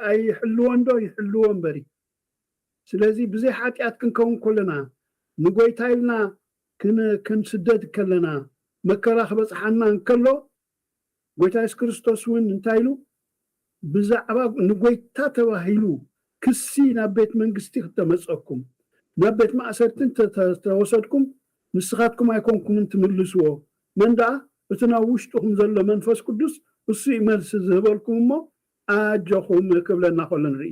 ኣይሕልዎን ዶ ይሕልዎ እምበሪ ስለዚ ብዘይ ሓጥያት ክንከውን ከሎና ንጎይታ ኢልና ክንስደድ ከለና መከራ ክበጽሓና እንከሎ ጎይታ የሱስ ክርስቶስ ውን እንታይ ኢሉ ብዛዕባ ንጎይታ ተባሂሉ ክሲ ናብ ቤት መንግስቲ ክተመጸኩም ናብ ቤት ማእሰርቲ እንተ ተወሰድኩም ንስካትኩም ኣይኮንኩምን ትምልስዎ መን ደኣ እቲ ናብ ውሽጥኩም ዘሎ መንፈስ ቅዱስ እሱ እዩ መልሲ ዝህበልኩም እሞ ኣጆኹም ክብለና ከሎ ንርኢ።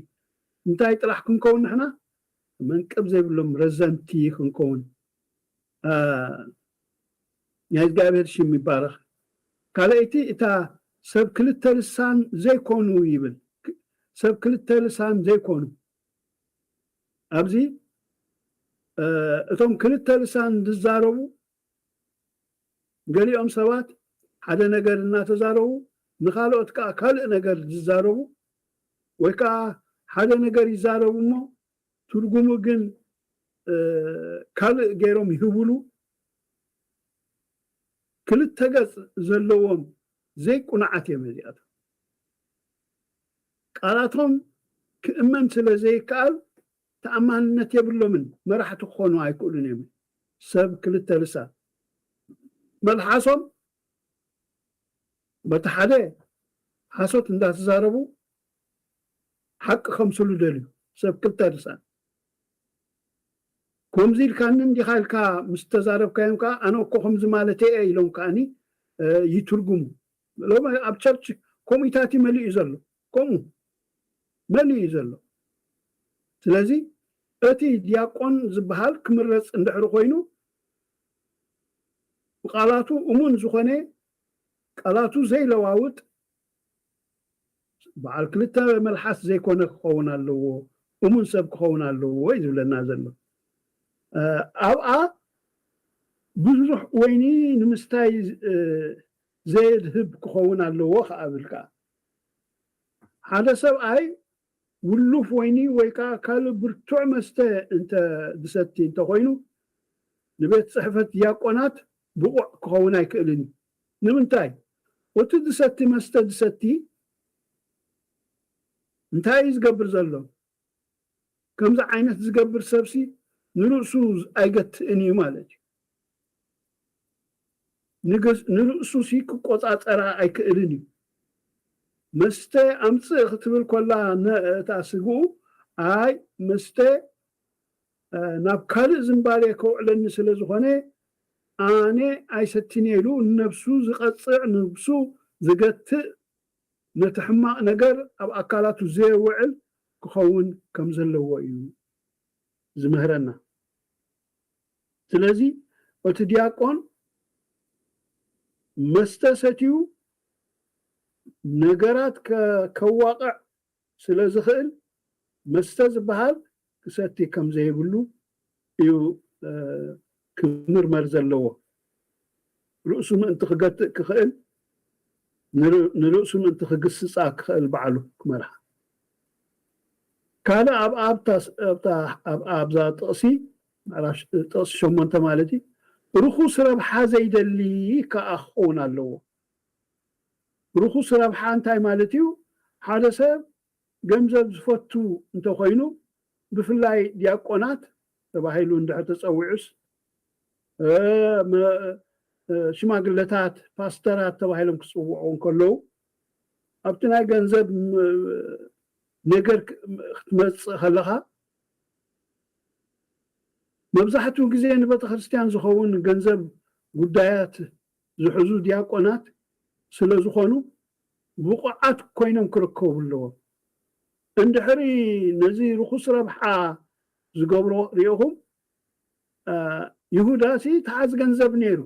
እንታይ ጥራሕ ክንከውን ንሕና መንቅብ ዘይብሎም ረዘንቲ ክንከውን ኣእ ናይ እዝጋብሄር ሽም ይባረኽ ካልኣይቲ እታ ሰብ ክልተ ልሳን ዘይኮኑ ይብል ሰብ ክልተ ልሳን ዘይኮኑ ኣብዚ እቶም ክልተ ልሳን ዝዛረቡ ገሊኦም ሰባት ሓደ ነገር እናተዛረቡ ንኻልኦት ከኣ ካልእ ነገር ዝዛረቡ ወይ ከኣ ሓደ ነገር ይዛረቡ እሞ ትርጉሙ ግን ካልእ ገይሮም ይህቡሉ ክልተ ገጽ ዘለዎም ዘይቁኑዓት እዮም እዚኣቶም። ቃላቶም ክእመን ስለ ዘይከኣል ተኣማንነት የብሎምን መራሕቲ ክኾኑ ኣይክእሉን እዮም ሰብ ክልተ ልሳን መልሓሶም በቲ ሓደ ሓሶት እንዳተዛረቡ ሓቂ ከምስሉ ደልዩ ሰብ ክልተ ልሳን ኮምዚ ኢልካኒ እንዲኻ ኢልካ ምስ ተዛረብካዮም ከኣ ኣነ እኮ ከምዚ ማለተይ እየ ኢሎም ከኣኒ ይትርጉሙ ሎሚ ኣብ ቸርች ኮሚታት እዩ መሊኡ ዘሎ ከምኡ መን እዩ ዘሎ ስለዚ እቲ ድያቆን ዝብሃል ክምረጽ እንድሕሪ ኮይኑ ብቃላቱ እሙን ዝኾነ ቃላቱ ዘይለዋውጥ ብዓል ክልተ መልሓስ ዘይኮነ ክኸውን ኣለዎ እሙን ሰብ ክኸውን ኣለዎ እዩ ዝብለና ዘሎ ኣብኣ ብዙሕ ወይኒ ንምስታይ ዘየድህብ ክኸውን ኣለዎ ክኣ እብል ክኣ ሓደ ሰብኣይ ውሉፍ ወይኒ ወይ ከኣ ካልእ ብርቱዕ መስተ እንተ ዝሰቲ እንተ ዀይኑ፣ ንቤት ጽሕፈት ድያቆናት ብቑዕ ኪኸውን ኣይክእልን እዩ። ንምንታይ? ኡቲ ዝሰቲ መስተ ዝሰቲ እንታይ እዩ ዝገብር ዘሎ? ከምዚ ዓይነት ዝገብር ሰብሲ ንርእሱ ኣይገትእን እዩ ማለት እዩ። ንርእሱሲ ክቆጻጸራ ኣይክእልን እዩ። መስተ ኣምጽእ ክትብል ኮላ እታ ስግኡ ኣይ መስተ ናብ ካልእ ዝምባሌ ከውዕለኒ ስለ ዝኾነ ኣነ ኣይሰቲን'የ ኢሉ ንነብሱ ዝቐጽዕ ንብሱ ዝገትእ ነቲ ሕማቕ ነገር ኣብ ኣካላቱ ዘየውዕል ክኸውን ከም ዘለዎ እዩ ዝምህረና። ስለዚ እቲ ዲያቆን መስተ ሰትዩ ነገራት ከዋቕዕ ስለ ዝኽእል መስተ ዝበሃል ክሰቲ ከም ዘይብሉ እዩ ክምርመር ዘለዎ። ርእሱ ምእንቲ ክገትእ ክኽእል ንርእሱ ምእንቲ ክግስጻ ክኽእል ባዕሉ ክመርሓ። ካልእ ኣብ ኣብዛ ጥቕሲ ምዕራፍ ጥቕሲ ሸሞንተ ማለት እዩ ርኹስ ረብሓ ዘይደሊ ከኣ ክኸውን ኣለዎ። ርኹስ ረብሓ እንታይ ማለት እዩ? ሓደ ሰብ ገንዘብ ዝፈቱ እንተ ኾይኑ፣ ብፍላይ ዲያቆናት ተባሂሉ እንድሕር ተጸዊዑስ፣ ሽማግለታት፣ ፓስተራት ተባሂሎም ክጽውዑ እንከለዉ፣ ኣብቲ ናይ ገንዘብ ነገር ክትመጽእ ከለኻ፣ መብዛሕትኡ ግዜ ንቤተክርስትያን ዝኸውን ገንዘብ ጉዳያት ዝሕዙ ዲያቆናት ስለ ዝኾኑ ብቑዓት ኮይኖም ክርከቡ ኣለዎም። እንድሕሪ ነዚ ርኹስ ረብሓ ዝገብሮ ሪእኹም ይሁዳሲ ተሓዝ ገንዘብ ነይሩ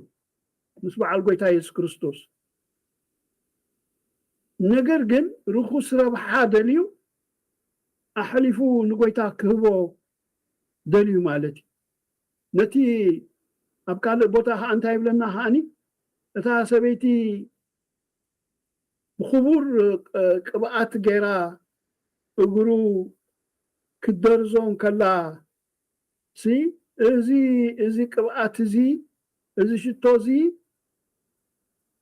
ምስ በዓል ጎይታ የሱስ ክርስቶስ ነገር ግን ርኹስ ረብሓ ደልዩ ኣሕሊፉ ንጎይታ ክህቦ ደልዩ ማለት እዩ። ነቲ ኣብ ካልእ ቦታ ከኣ እንታይ ይብለና ከኣኒ እታ ሰበይቲ ብኽቡር ቅብኣት ገይራ እግሩ ክትደርዞ እንከላ ሲ እዚ እዚ ቅብኣት እዚ እዚ ሽቶ እዚ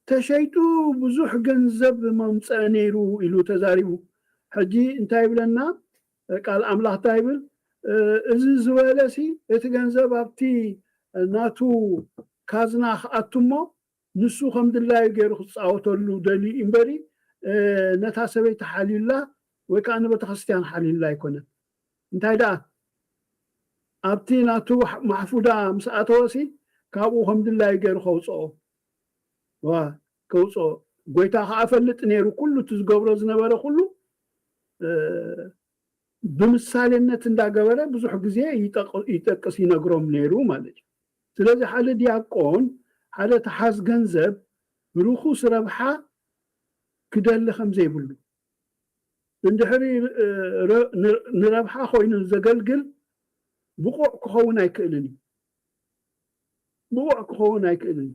ተሸይጡ ብዙሕ ገንዘብ መምጸኢ ነይሩ ኢሉ ተዛሪቡ ሕጂ እንታይ ይብለና ቃል ኣምላኽ እንታይ ይብል እዚ ዝበለሲ እቲ ገንዘብ ኣብቲ ናቱ ካዝና ክኣቱ እሞ ንሱ ከም ድላዩ ገይሩ ክጻወተሉ ደልዩ እዩ እምበሪ ነታ ሰበይቲ ሓልዩላ ወይ ከኣ ንቤተክርስትያን ሓልዩላ ኣይኮነን እንታይ ደኣ ኣብቲ ናቱ ማሕፉዳ ምስ ኣተወሲ ካብኡ ከም ድላዩ ገይሩ ከውጽኦ ከውጽኦ ጎይታ ከኣ ፈልጥ ነሩ ኩሉ እቲ ዝገብሮ ዝነበረ ኩሉ ብምሳሌነት እንዳ ገበረ ብዙሕ ግዜ ይጠቅስ ይነግሮም ነሩ ማለት እዩ ስለዚ ሓደ ድያቆን ሓደ ተሓዝ ገንዘብ ርኩስ ረብሓ ክደሊ ከም ዘይብሉ እንድሕሪ ንረብሓ ኮይኑ ዘገልግል ብቁዕ ክኸውን ኣይክእልን እዩ ብቑዕ ክኸውን ኣይክእልን እዩ።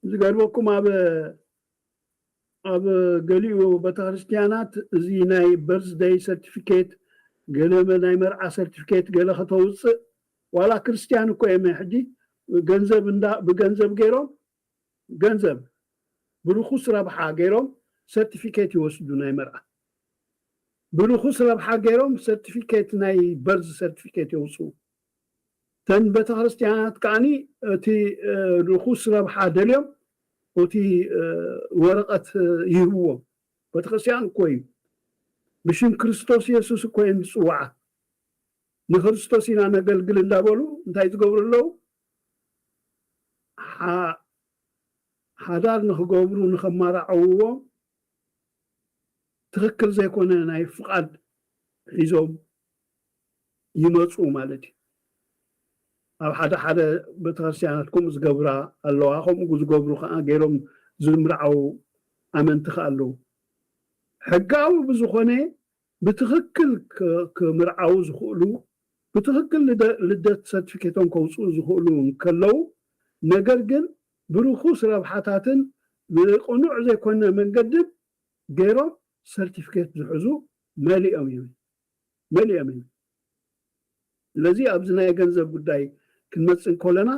ዝገርመኩም ኣብ ኣብ ገሊኡ በተክርስትያናት እዚ ናይ በርዝ ደይ ሰርቲፊኬት ገለ ናይ መርዓ ሰርቲፊኬት ገለ ከተውጽእ ዋላ ክርስትያን እኮ እየ ሕጂ ገንዘብ እንዳ ብገንዘብ ገይሮም ገንዘብ ብርኹስ ረብሓ ገይሮም ሰርቲፊኬት ይወስዱ ናይ መርዓ ብርኹስ ረብሓ ገይሮም ሰርቲፊኬት ናይ በርዝ ሰርቲፊኬት የውጽኡ እተን ቤተክርስትያናት ከኣኒ እቲ ርኹስ ረብሓ ደልዮም ኡቲ ወረቀት ይህብዎም ቤተክርስትያን እኮ እዩ ብሽም ክርስቶስ የሱስ እኮ እየን ዝጽውዓ ንክርስቶስ ኢና ነገልግል እንዳበሉ እንታይ ዝገብሩ ኣለው ሓዳር ንክገብሩ ንከማራዕውዎም ትክክል ዘይኮነ ናይ ፍቃድ ሒዞም ይመጹ ማለት እዩ ኣብ ሓደ ሓደ ቤተክርስትያናት ከምኡ ዝገብራ ኣለዋ ከምኡ ዝገብሩ ከኣ ገይሮም ዝምርዓዉ ኣመንቲ ከኣ ኣለዉ ሕጋዊ ብዝኮነ ብትኽክል ክምርዓዉ ዝኽእሉ፣ ብትኽክል ልደት ሰርትፊኬቶም ከውጽኡ ዝኽእሉ እንከለዉ፣ ነገር ግን ብርኹስ ረብሓታትን ብቕኑዕ ዘይኮነ መንገድን ገይሮም ሰርትፊኬት ዝሕዙ መሊኦም እዮም። ስለዚ ኣብዚ ናይ ገንዘብ ጉዳይ ክንመጽእ እንከሎና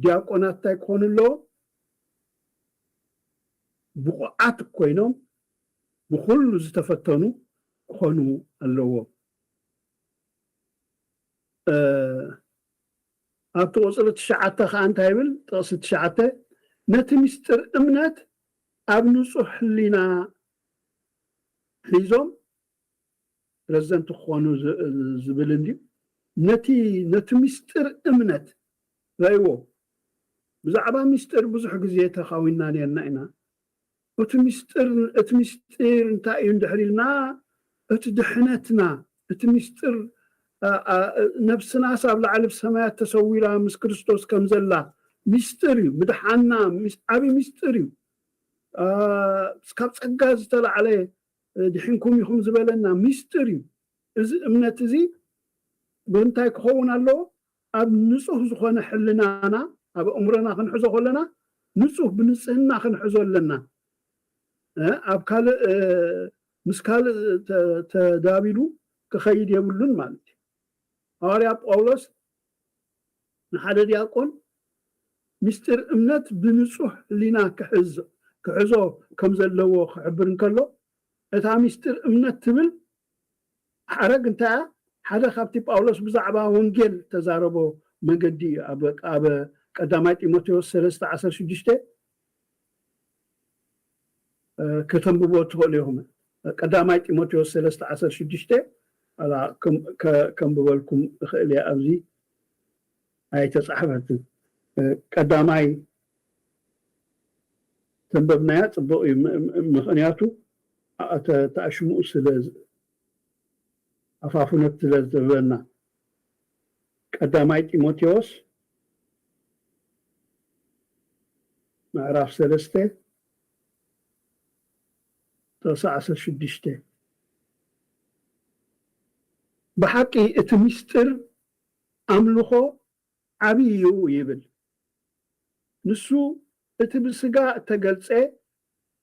ዲያቆናት እንታይ ክኾኑ ኣለዎም? ብቑዓት ኮይኖም ብኹሉ ዝተፈተኑ ክኾኑ ኣለዎም። ኣብቲ ቁጽሪ ትሽዓተ ከኣ እንታይ ይብል? ጥቕሲ ትሽዓተ ነቲ ምስጢር እምነት ኣብ ንጹሕ ሕሊና ሒዞም ፕረዚደንት ክኾኑ ዝብል እንድዩ ነቲ ነቲ ምስጢር እምነት ራይዎ ብዛዕባ ምስጢር ብዙሕ ግዜ ተኻዊንና ኔርና ኢና ኦቲ ምስጢር እቲ ምስጢር እንታይ እዩ እንድሕር ኢልና እቲ ድሕነትና እቲ ምስጢር ነብስናስ ኣብ ላዕሊ ኣብ ሰማያት ተሰዊራ ምስ ክርስቶስ ከም ዘላ ምስጢር እዩ ምድሓና ዓቢ ምስጢር እዩ ካብ ጸጋ ዝተላዕለ ድሒንኩም ኢኹም ዝበለና ምስጢር እዩ። እዚ እምነት እዚ ብምንታይ ክኸውን ኣለዎ? ኣብ ንጹህ ዝኾነ ሕልናና፣ ኣብ ኣእምሮና ክንሕዞ ከሎና ንጹህ ብንጽህና ክንሕዞ ኣለና። ኣብ ካልእ ምስ ካልእ ተዳቢሉ ክኸይድ የብሉን ማለት እዩ። ሃዋርያ ጳውሎስ ንሓደ ዲያቆን ምስጢር እምነት ብንጹህ ሕሊና ክሕዝ ክሕዞ ከም ዘለዎ ክሕብር እንከሎ፣ እታ ምስጢር እምነት ትብል ሓረግ እንታይ እያ? ሓደ ካብቲ ጳውሎስ ብዛዕባ ወንጌል እተዛረቦ መንገዲ እዩ። ኣብ ኣብ ቀዳማይ ጢሞቴዎስ ሰለስተ ዓሰርተ ሽዱሽተ ከተንብቦ እትኸእሉ ኢኹም። ቀዳማይ ጢሞቴዎስ ሰለስተ ዓሰርተ ሽዱሽተ ዋላ ከንብበልኩም እኸእል እየ ኣብዚ ኣይተጻሕፈትን ቀዳማይ ተንበብናያ ጽቡቕ እዩ ምኽንያቱ ተኣሽሙኡ ስለ ኣፋፉነት ስለ ዝህበና ቀዳማይ ጢሞቴዎስ ምዕራፍ ሰለስተ ጥቕሲ ዓሰርተ ሽዱሽተ ብሓቂ እቲ ምስጢር ኣምልኾ ዓብዪ እዩ ይብል፣ ንሱ እቲ ብስጋ እተገልጸ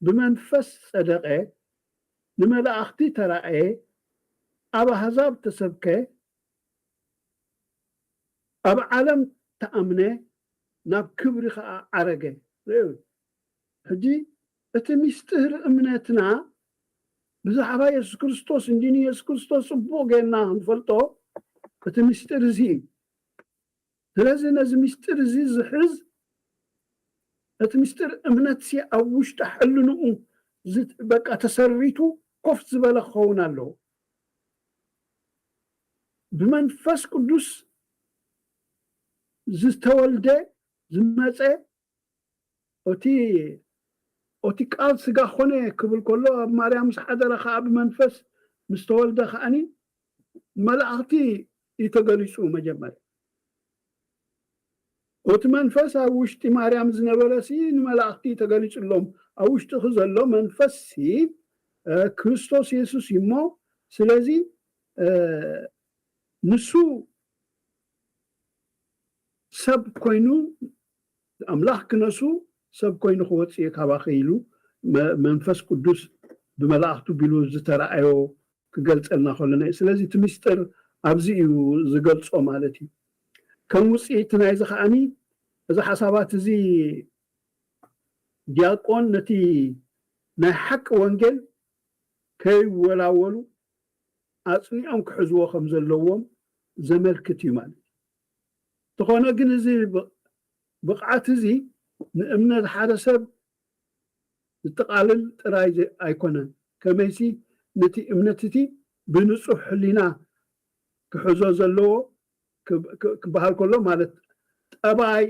ብመንፈስ ጸደቐ፣ ንመላእኽቲ ተራእየ፣ ኣብ ኣህዛብ ተሰብከ፣ ኣብ ዓለም ተኣምነ ናብ ክብሪ ከኣ ዓረገ። ርእዩ ሕጂ እቲ ሚስጢር እምነትና ብዛዕባ የሱስ ክርስቶስ እንድዩ ንየሱስ ክርስቶስ ጽቡቕ ጌርና ክንፈልጦ እቲ ሚስጢር እዚ እዩ። ስለዚ ነዚ ምስጢር እዚ ዝሕዝ ነቲ ምስጢር እምነትሲ ኣብ ውሽጢ ሕልንኡ በቃ ተሰሪቱ ኮፍ ዝበለ ክኸውን ኣለዎ። ብመንፈስ ቅዱስ ዝተወልደ ዝመጸ ኦቲ ኦቲ ቃል ስጋ ኾነ ክብል ከሎ ኣብ ማርያም ምስ ሓደረ ኸኣ ብመንፈስ ምስ ተወልደ ኸኣኒ ንመላእኽቲ እዩ ተገሊጹ መጀመርያ ኦቲ መንፈስ ኣብ ውሽጢ ማርያም ዝነበረ ሲ ንመላእኽቲ እዩ ተገሊጹሎም ኣብ ውሽጢኺ ዘሎ መንፈስ ሲ ክርስቶስ የሱስ እዩ እሞ ስለዚ ንሱ ሰብ ኮይኑ ኣምላኽ ክነሱ ሰብ ኮይኑ ክወጽእ እየ ካባኺ ኢሉ መንፈስ ቅዱስ ብመላእኽቱ ቢሉ ዝተራእዮ ክገልጸልና ከሎ ንርኢ። ስለዚ እቲ ምስጢር ኣብዚ እዩ ዝገልጾ ማለት እዩ። ከም ውጽኢት ናይዚ ከኣ እዚ ሓሳባት እዚ ዲያቆን ነቲ ናይ ሓቂ ወንጌል ከይወላወሉ ኣጽኒዖም ክሕዝዎ ከም ዘለዎም ዘመልክት እዩ ማለት እዩ። እንተኾነ ግን እዚ ብቕዓት እዚ ንእምነት ሓደ ሰብ ዝጠቓልል ጥራይ ኣይኮነን፣ ከመይሲ ነቲ እምነት እቲ ብንጹህ ሕሊና ክሕዞ ዘለዎ ክበሃል ከሎ ማለት ጠባይ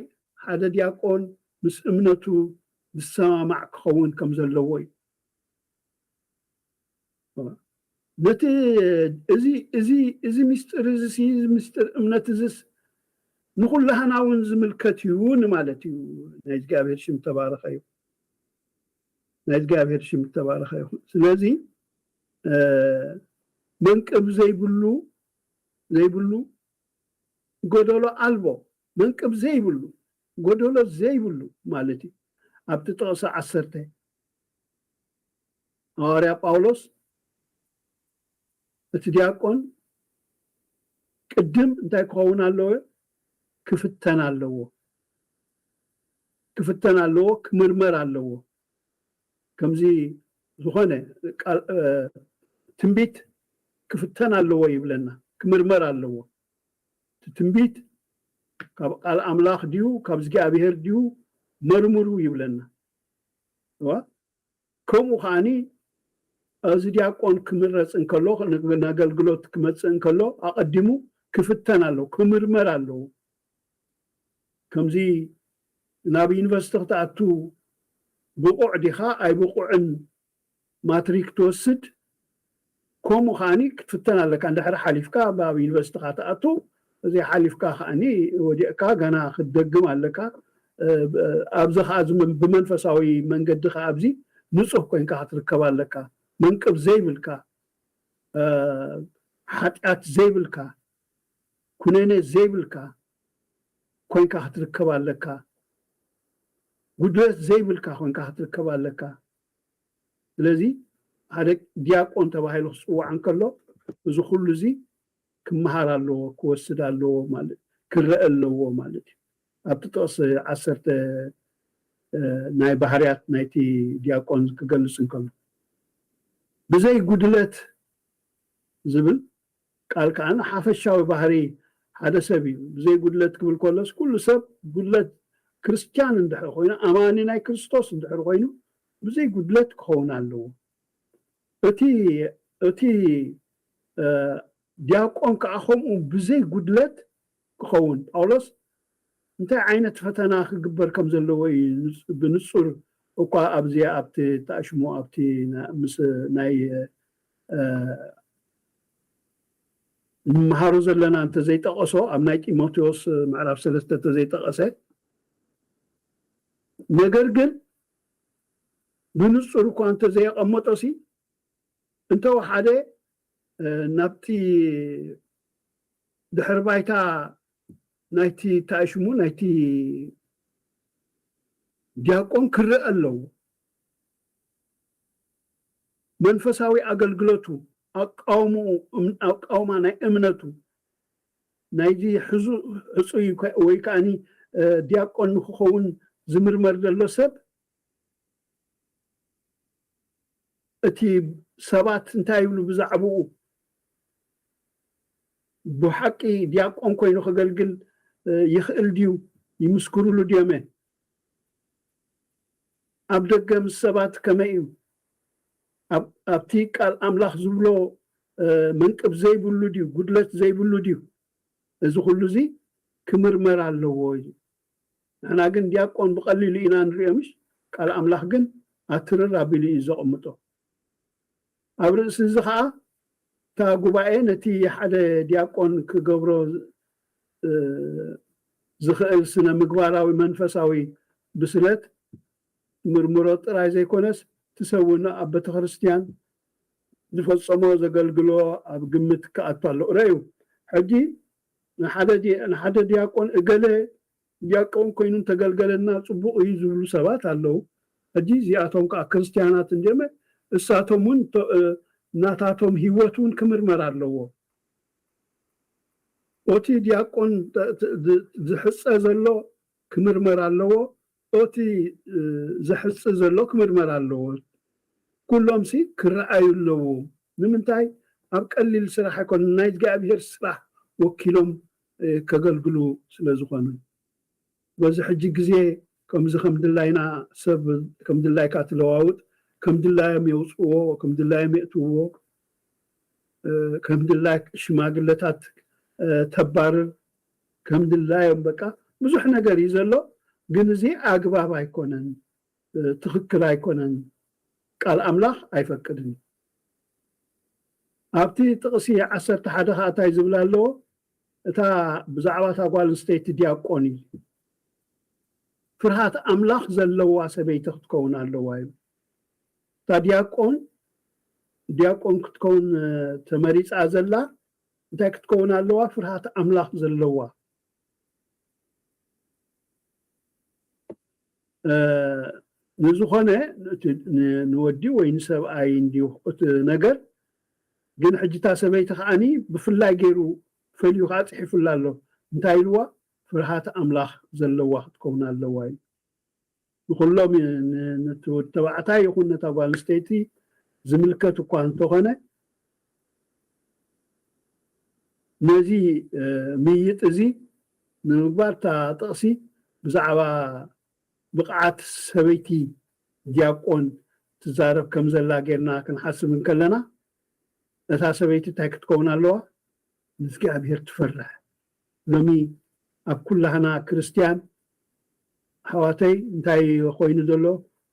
ሓደ ዲያቆን ምስ እምነቱ ዝሰማማዕ ክኸውን ከም ዘለዎ እዩ። ነቲ እዚ ምስጢር እዚሲ ምስጢር እምነት እዝስ ንኹላህና እውን ዝምልከት እዩ ንማለት እዩ ናይ እግዚኣብሔር ሽም ተባረኸ እዩ ናይ እግዚኣብሔር ሽም ተባረኸ ይኹን ስለዚ መንቅብ ዘይብሉ ዘይብሉ ጎደሎ ኣልቦ መንቅብ ዘይብሉ ጎደሎ ዘይብሉ ማለት እዩ ኣብቲ ጥቕሲ ዓሰርተ ሃዋርያ ጳውሎስ እቲ ዲያቆን ቅድም እንታይ ክኸውን ኣለዎ? ክፍተን ኣለዎ። ክፍተን ኣለዎ፣ ክምርመር ኣለዎ። ከምዚ ዝኾነ ትንቢት ክፍተን ኣለዎ ይብለና፣ ክምርመር ኣለዎ። እቲ ትንቢት ካብ ቃል ኣምላኽ ድዩ ካብ እዝጊኣብሄር ድዩ መርምሩ ይብለና። እወ ከምኡ ከኣ እዚ ዲያቆን ክምረጽ እንከሎ ንኣገልግሎት ክመጽእ እንከሎ ኣቐዲሙ ክፍተን ኣለዎ ክምርመር ኣለዎ ከምዚ ናብ ዩኒቨርስቲ ክትኣቱ ብቑዕ ዲኻ ኣይብቑዕን ማትሪክ ትወስድ ኮሙ ከኣ ክትፍተን ኣለካ ድሕሪ ሓሊፍካ ኣብ ዩኒቨርሲትኻ ትኣቱ ዘይ ሓሊፍካ ከኣ ወዲቅካ ገና ክትደግም ኣለካ ኣብዚ ከኣ ብመንፈሳዊ መንገዲ ከኣ ኣብዚ ንጹህ ኮንካ ክትርከብ ኣለካ መንቅብ ዘይብልካ ሓጢኣት ዘይብልካ ኩነኔ ዘይብልካ ኮንካ ክትርከብ ኣለካ ጉድለት ዘይብልካ ኮንካ ክትርከብ ኣለካ። ስለዚ ሓደ ዲያቆን ተባሂሉ ክጽዋዕ እንከሎ እዚ ኩሉ እዚ ክመሃር ኣለዎ ክወስድ ኣለዎ ማለት ክረኣ ኣለዎ ማለት እዩ። ኣብቲ ጥቕሲ ዓሰርተ ናይ ባህርያት ናይቲ ዲያቆን ክገልጽ እንከሎ ብዘይ ጉድለት ዝብል ቃል ከኣ ሓፈሻዊ ባህሪ ሓደ ሰብ እዩ። ብዘይ ጉድለት ክብል ከሎስ ኩሉ ሰብ ጉድለት ክርስትያን እንድሕር ኮይኑ ኣማኒ ናይ ክርስቶስ እንድሕር ኮይኑ ብዘይ ጉድለት ክኸውን ኣለዎ። እቲ እቲ ድያቆን ከኣ ከምኡ ብዘይ ጉድለት ክኸውን፣ ጳውሎስ እንታይ ዓይነት ፈተና ክግበር ከም ዘለዎ ኢዩ ብንጹር እኳ ኣብዚ ኣብቲ እተኣሽሙ ኣብቲ ምስ ናይ እንመሃሮ ዘለና እንተ ዘይጠቐሶ ኣብ ናይ ጢሞቴዎስ ምዕራፍ ሰለስተ እንተ ዘይጠቐሰ ነገር ግን ብንጹር እኳ እንተ ዘየቐመጦሲ እንተ ወሓደ ናብቲ ድሕሪ ባይታ ናይቲ እንታይ እዩ ሽሙ ናይቲ ዲያቆን ክረአ ኣለዎ። መንፈሳዊ ኣገልግሎቱ፣ ኣቃውምኡ፣ እም- ኣቃውማ ናይ እምነቱ ናይዚ ሕዙ ሕጹይ ከ- ወይ ከዓኒ እ፣ ዲያቆን ንክኸውን ዝምርመር ዘሎ ሰብ እቲ ሰባት እንታይ ይብሉ ብዛዕብኡ? ብሓቂ ዲያቆን ኮይኑ ከገልግል ይኽእል ድዩ? ይምስክሩሉ ድዮም'የ? ኣብ ደገ ምስ ሰባት ከመይ እዩ? ኣብቲ ቃል ኣምላኽ ዝብሎ መንቅብ ዘይብሉ ድዩ? ጉድለት ዘይብሉ ድዩ? እዚ ኩሉ እዚ ክምርመር ኣለዎ ኢሉ። ንሕና ግን ዲያቆን ብቀሊሉ ኢና ንሪኦ ምሽ ቃል ኣምላኽ ግን ኣትርር ኣቢሉ እዩ ዘቅምጦ ኣብ ርእሲ እዚ ከኣ እታ ጉባኤ ነቲ ሓደ ዲያቆን ክገብሮ ዝኽእል ስነ ምግባራዊ መንፈሳዊ ብስለት ትምርምሮ ጥራይ ዘይኮነስ ትሰውን ኣብ ቤተክርስትያን ዝፈጸሞ ዘገልግሎ ኣብ ግምት ክኣቱ ኣለዎ ረዩ ሕጂ ንሓደ ድያቆን እገለ ድያቆን ኮይኑ እንተገልገለና ጽቡቕ እዩ ዝብሉ ሰባት ኣለዉ። ሕጂ እዚኣቶም ከኣ ክርስትያናት እንድዮመ እሳቶም እውን ናታቶም ህይወት እውን ክምርመር ኣለዎ። ኦቲ ድያቆን ዝሕጸ ዘሎ ክምርመር ኣለዎ ኦቲ ዘሕጽ ዘሎ ክምርመር ኣለዎ ኩሎም ሲ ክረኣዩ ኣለዎ ንምንታይ ኣብ ቀሊል ስራሕ ኣይኮነን ናይ እዝጋኣቢሄር ስራሕ ወኪሎም ከገልግሉ ስለ ዝኮኑ በዚ ሕጂ ግዜ ከምዚ ከም ድላይና ሰብ ከም ድላይካ ትለዋውጥ ከም ድላዮም የውጽዎ ከም ድላዮም የእትውዎ ከም ድላይክ ሽማግለታት ተባርር ከም ድላዮም በቃ ብዙሕ ነገር እዩ ዘሎ ግን እዚ ኣግባብ ኣይኮነን ትኽክል ኣይኮነን ቃል ኣምላኽ ኣይፈቅድን እዩ ኣብቲ ጥቕሲ ዓሰርተ ሓደ ከኣ እንታይ ዝብል ኣለዎ እታ ብዛዕባ እታ ጓል ኣንስተይቲ ዲያቆን እዩ ፍርሃት ኣምላኽ ዘለዋ ሰበይቲ ክትከውን ኣለዋ እዩ እታ ዲያቆን ዲያቆን ክትከውን ተመሪፃ ዘላ እንታይ ክትከውን ኣለዋ ፍርሃት ኣምላኽ ዘለዋ። ንዝኾነ ንወዲ ወይ ንሰብኣይ እንድዩ እቲ ነገር ግን ሕጂ እታ ሰበይቲ ከኣኒ ብፍላይ ጌሩ ፈልዩ ከኣ ጽሒፉላ ኣሎ እንታይ ኢልዋ ፍርሃት ኣምላኽ ዘለዋ ክትከውን ኣለዋ ኢሉ። ንኹሎም ነቲ ወዲ ተባዕታይ ይኹን ነታ ጓል ኣንስተይቲ ዝምልከት እኳ እንተኾነ ነዚ ምይይጥ እዚ ንምግባር እታ ጥቕሲ ብዛዕባ ብቕዓት ሰበይቲ ዲያቆን ትዛረብ ከም ዘላ ጌርና ክንሓስብ እንከለና እታ ሰበይቲ እንታይ ክትከውን ኣለዋ? ንእግዚኣብሄር ትፈርሕ ሎሚ ኣብ ኩላህና ክርስትያን ኣሕዋተይ እንታይ እዮ ኮይኑ ዘሎ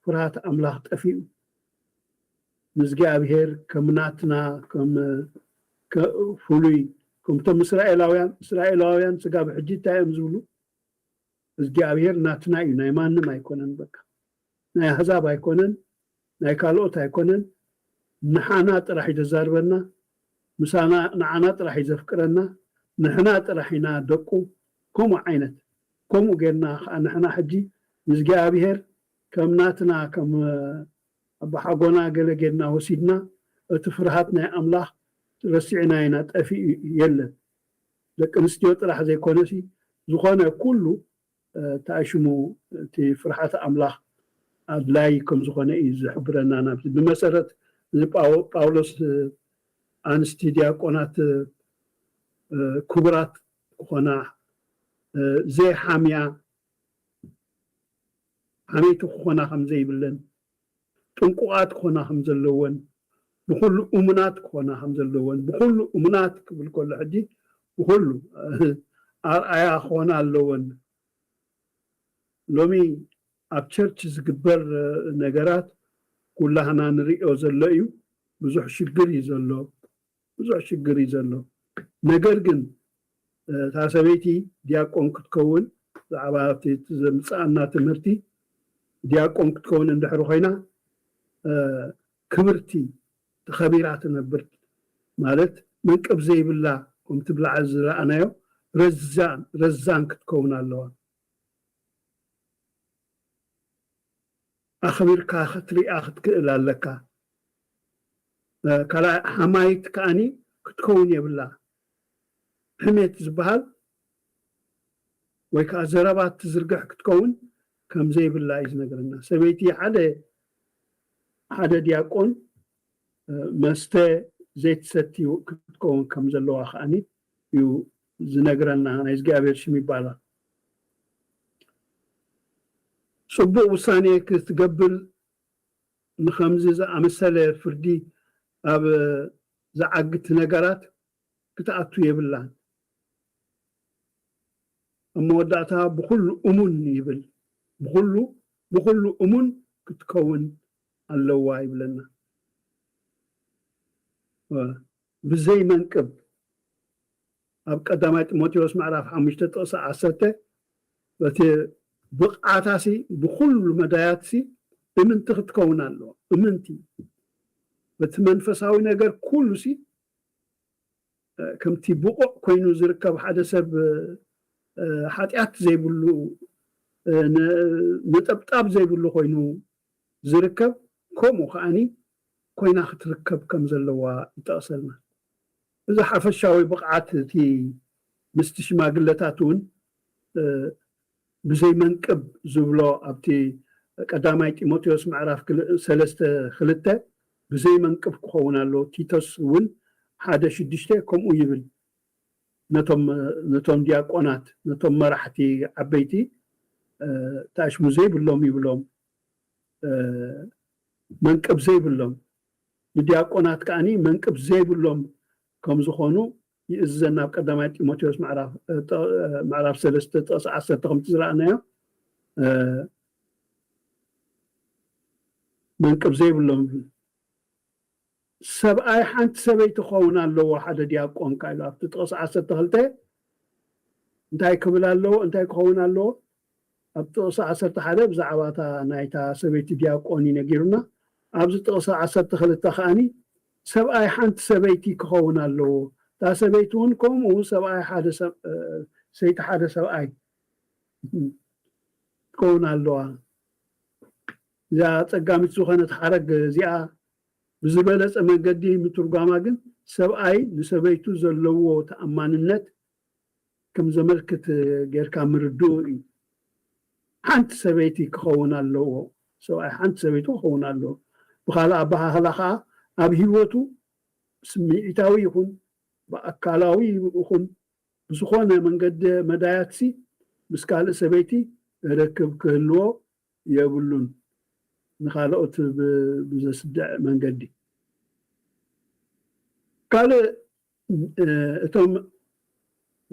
ፍርሃት ኣምላኽ ጠፊኡ ንዝጊኣብሄር ከም ናትና ከም ፍሉይ ከምቶም እስራኤላውያን እስራኤላውያን ስጋብ ሕጂ እንታይ እዮም ዝብሉ እዝጊኣብሄር ናትና እዩ ናይ ማንም ኣይኮነን በቃ ናይ ኣህዛብ ኣይኮነን ናይ ካልኦት ኣይኮነን ንሓና ጥራሕ እዩ ዘዛርበና ምሳና ንዓና ጥራሕ እዩ ዘፍቅረና ንሕና ጥራሕ ኢና ደቁ ከምኡ ዓይነት ከምኡ ጌርና ከኣ ንሕና ሕጂ ንእዝጊኣብሄር ከም ናትና ከም ኣባሓጎና ገለ ጌርና ወሲድና እቲ ፍርሃት ናይ ኣምላኽ ረሲዕናዮ ኢና ጠፊኡ የለን ደቂ ኣንስትዮ ጥራሕ ዘይኮነሲ ዝኾነ ኩሉ ታይ ሽሙ እቲ ፍርሓተ ኣምላኽ ኣድላዪ ከም ዝኾነ እዩ ዝሕብረና ናብዚ ብመሰረት ጳውሎስ ኣንስቲ ድያቆናት ክቡራት ክኾና ዘይሓምያ ሓመይቲ ክኾና ከም ዘይብለን ጥንቁቓት ክኾና ከም ዘለወን፣ ብኹሉ እሙናት ክኾና ከም ዘለወን፣ ብኹሉ እሙናት ክብል ከሎ ሕጂ ብኹሉ ኣርኣያ ክኾና ኣለወን። ሎሚ ኣብ ቸርች ዝግበር ነገራት ኩላህና ንርእዮ ዘሎ እዩ። ብዙሕ ሽግር እዩ ዘሎ። ብዙሕ ሽግር እዩ ዘሎ ነገር ግን እታ ሰበይቲ ዲያቆን ክትከውን ብዛዕባ እቲ ዘምጽኣና ትምህርቲ ዲያቆን ክትከውን እንድሕሪ ኮይና ክብርቲ ተኸቢራ ትነብር ማለት መንቅብ ዘይብላ ከምቲ ብላዕሊ ዝረኣናዮ ረዛን ረዛን ክትከውን ኣለዋ። ኣኽቢርካ ክትሪኣ ክትክእል ኣለካ ካልኣይ ሓማይት ከኣኒ ክትከውን የብላ ሕሜት ዝባሃል ወይ ከኣ ዘረባ ትዝርግሕ ክትከውን ከም ዘይብላ እዩ ዝነግረና ሰበይቲ ሓደ ሓደ ድያቆን መስተ ዘይትሰቲ ክትከውን ከም ዘለዋ ከኣኒ እዩ ዝነግረና ናይ እግዚኣብሔር ሽም ይባረክ። ጽቡቅ ውሳኔ ክትገብር ንከምዚ ዝኣመሰለ ፍርዲ ኣብ ዝዓግት ነገራት ክትኣቱ የብላን ኣብ መወዳእታ ብኩሉ እሙን ይብል ብኩሉ ብኩሉ እሙን ክትከውን ኣለዋ ይብለና። ብዘይ መንቅብ ኣብ ቀዳማይ ጢሞቴዎስ ምዕራፍ ሓሙሽተ ጥቕሲ ዓሰርተ በቲ ብቕዓታሲ ብኹሉ መዳያትሲ እምንቲ ክትከውን ኣለዋ። እምንቲ በቲ መንፈሳዊ ነገር ኩሉሲ ከምቲ ብቑዕ ኮይኑ ዝርከብ ሓደ ሰብ ሓጢኣት ዘይብሉ ነጠብጣብ ዘይብሉ ኮይኑ ዝርከብ ከምኡ ከዓኒ ኮይና ክትርከብ ከም ዘለዋ ይጠቕሰልና። እዚ ሓፈሻዊ ብቕዓት እቲ ምስቲ ሽማግለታት እውን ብዘይ መንቅብ ዝብሎ ኣብቲ ቀዳማይ ጢሞቴዎስ ምዕራፍ ሰለስተ ክልተ ብዘይ መንቅብ ክኸውን ኣለዎ፣ ቲቶስ እውን ሓደ ሽዱሽተ ከምኡ ይብል፣ ነቶም ነቶም ዲያቆናት ነቶም መራሕቲ ዓበይቲ ተኣሽሙ ዘይብሎም ይብሎም። መንቅብ ዘይብሎም፣ ንዲያቆናት ከኣ መንቅብ ዘይብሎም ከም ዝኾኑ ይእዝዘና ኣብ ቀዳማይ ጢሞቴዎስ ምዕራፍ ሰለስተ ጥቕሲ ዓሰርተ ከምቲ ዝረኣናዮ መንቅብ ዘይብሎም ይብል። ሰብኣይ ሓንቲ ሰበይቲ ክኸውን ኣለዎ ሓደ ዲያቆን ከኣ ኢሉ ኣብቲ ጥቕሲ ዓሰርተ ክልተ እንታይ ክብል ኣለዎ እንታይ ክኸውን ኣለዎ ኣብ ጥቕሲ ዓሰርተ ሓደ ብዛዕባ እታ ናይታ ሰበይቲ ዲያቆን እዩ ነጊሩና ኣብዚ ጥቕሲ ዓሰርተ ክልተ ከኣኒ ሰብኣይ ሓንቲ ሰበይቲ ክኸውን ኣለዎ እታ ሰበይቲ እውን ከምኡ ሰብኣይ ሓደ ሰይቲ ሓደ ሰብኣይ ትከውን ኣለዋ እዛ ጸጋሚት ዝኾነት ሓረግ እዚኣ ብዝበለጸ መንገዲ ምትርጓማ ግን ሰብኣይ ንሰበይቱ ዘለዎ ተኣማንነት ከም ዘመልክት ጌርካ ምርድኡ እዩ። ሓንቲ ሰበይቲ ክኸውን ኣለዎ፣ ሰብኣይ ሓንቲ ሰበይቱ ክኸውን ኣለዎ። ብኻልእ ኣበሃህላ ከኣ ኣብ ህይወቱ ብስምዒታዊ ይኹን ብኣካላዊ ይኹን ብዝኾነ መንገዲ መዳያትሲ ምስ ካልእ ሰበይቲ ርክብ ክህልዎ የብሉን ንካልኦት ብዘስድዕ መንገዲ። ካልእ እቶም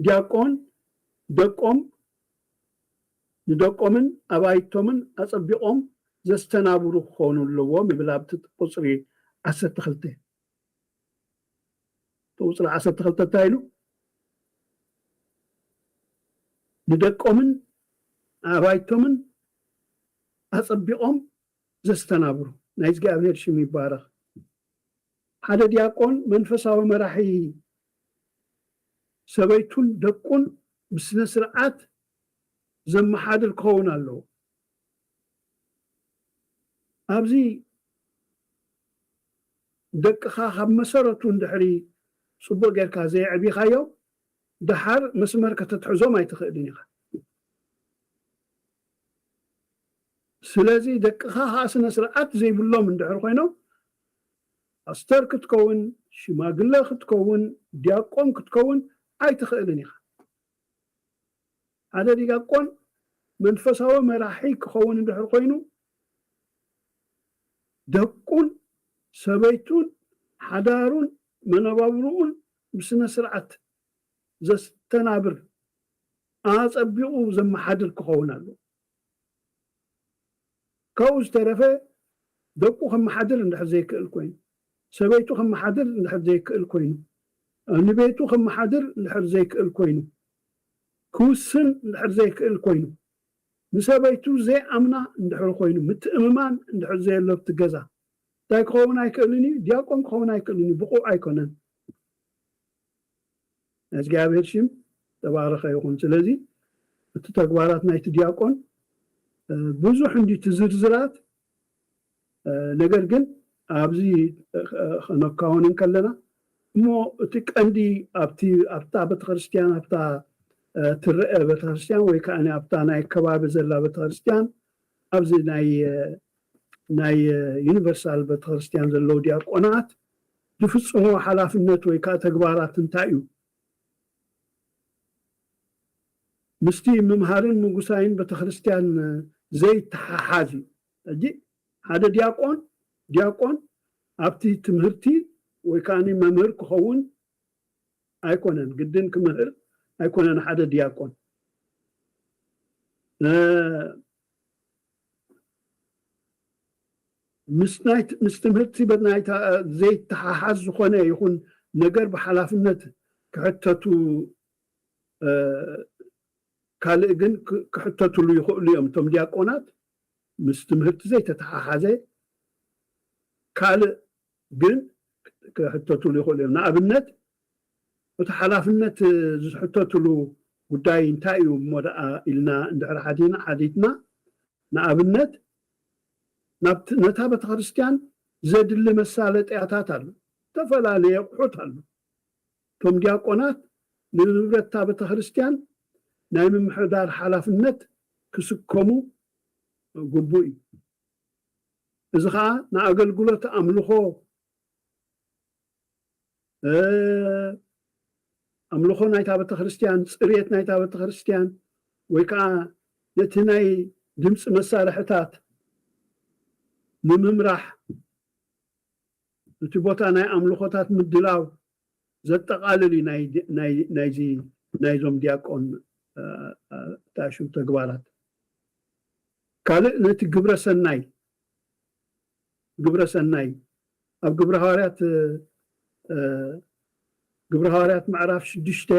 ዲያቆን ደቆም ንደቆምን ኣባይቶምን ኣጸቢቆም ዘስተናብሩ ክኮኑ ኣለዎም ይብል ኣብቲ ቁጽሪ ዓሰርተ ክልተ ቁጽሪ ዓሰርተ ክልተ እንታይ ኢሉ? ንደቆምን ኣባይቶምን ኣጸቢቖም ዘስተናብሩ። ናይ እግዚኣብሄር ሽም ይባረኽ። ሓደ ዲያቆን መንፈሳዊ መራሒ ሰበይቱን ደቁን ብስነ ስርዓት ዘመሓድር ክኸውን ኣለዎ። ኣብዚ ደቅኻ ካብ መሰረቱ እንድሕሪ ጽቡቕ ጌርካ ዘየዕቢኻዮም ደሓር መስመር ከተትሕዞም ኣይትኽእልን ኢኻ። ስለዚ ደቅኻ ከኣ ስነ ስርዓት ዘይብሎም እንድሕር ኮይኖም ፓስተር ክትከውን ሽማግለ ክትከውን ዲያቆን ክትከውን ኣይትኽእልን ኢኻ። ሓደ ዲያቆን መንፈሳዊ መራሒ ክኸውን እንድሕር ኮይኑ፣ ደቁን ሰበይቱን ሓዳሩን መነባብርኡን ብስነ ስርዓት ዘስተናብር፣ ኣጸቢቑ ዘመሓድር ክኸውን ኣለዎ። ካብኡ ዝተረፈ ደቁ ከመሓድር እንድሕር ዘይክእል ኮይኑ፣ ሰበይቱ ከመሓድር እንድሕር ዘይክእል ኮይኑ፣ ንቤቱ ከመሓድር እንድሕር ዘይክእል ኮይኑ፣ ክውስን እንድሕር ዘይክእል ኮይኑ፣ ንሰበይቱ ዘይኣምና እንድሕር ኮይኑ፣ ምትእምማን እንድሕር ዘየሎ ኣብቲ ገዛ፣ እንታይ ክኸውን ኣይክእልን እዩ? ዲያቆን ክኸውን ኣይክእልን እዩ፣ ብቑዕ ኣይኮነን። ናይ እግዚኣብሔር ሽም ዝተባረኸ ይኹን ስለዚ እቲ ተግባራት ናይቲ ዲያቆን ብዙሕ እንዲ እቲ ዝርዝራት ነገር ግን ኣብዚ ከነካውን እንከለና እሞ እቲ ቀንዲ ኣብቲ ኣብታ ቤተክርስትያን ኣብታ ትረአ ቤተክርስትያን ወይ ከዓ ኣብታ ናይ ከባቢ ዘላ ቤተክርስትያን ኣብዚ ናይ ናይ ዩኒቨርሳል በተክርስትያን ዘለዉ ዲያቆናት ዝፍጽምዎ ሓላፍነት ወይ ከኣ ተግባራት እንታይ እዩ? ምስቲ ምምሃርን ምጉሳይን በተክርስትያን ዘይተሓሓዝ እዩ። ሕጂ ሓደ ዲያቆን ዲያቆን ኣብቲ ትምህርቲ ወይ ከኣ መምህር ክኸውን ኣይኮነን፣ ግድን ክምህር ኣይኮነን ሓደ ዲያቆን። ምስ ትምህርቲ በናይታ ዘይተሓሓዝ ዝኾነ ይኹን ነገር ብሓላፍነት ክሕተቱ ካልእ ግን ክሕተትሉ ይኽእሉ እዮም። እቶም ዲያቆናት ምስ ትምህርቲ ዘይተተሓሓዘ ካልእ ግን ክሕተትሉ ይኽእሉ እዮም። ንኣብነት እቲ ሓላፍነት ዝሕተትሉ ጉዳይ እንታይ እዩ እሞ ደኣ ኢልና እንድሕር ሓቲና ሓቲትና ንኣብነት ናብቲ ነታ ቤተክርስትያን ዘድሊ መሳለጥያታት ኣሎ፣ ዝተፈላለየ ኣቑሑት ኣሎ። እቶም ዲያቆናት ንንብረት እታ ቤተክርስትያን ናይ ምምሕዳር ሓላፍነት ክስከሙ ግቡእ እዩ። እዚ ኸኣ ንኣገልግሎት ኣምልኾ ኣምልኾ ናይታ ቤተክርስትያን ጽርየት ናይታ ቤተክርስትያን ወይ ከኣ ነቲ ናይ ድምጺ መሳርሕታት ንምምራሕ እቲ ቦታ ናይ ኣምልኾታት ምድላው ዘጠቓልል እዩ ናይዚ ናይዞም ዲያቆን ታሹ ተግባራት። ካልእ ነቲ ግብረ ሰናይ ግብረ ሰናይ ኣብ ግብረ ሃዋርያት ግብረ ሃዋርያት ምዕራፍ ሽዱሽተ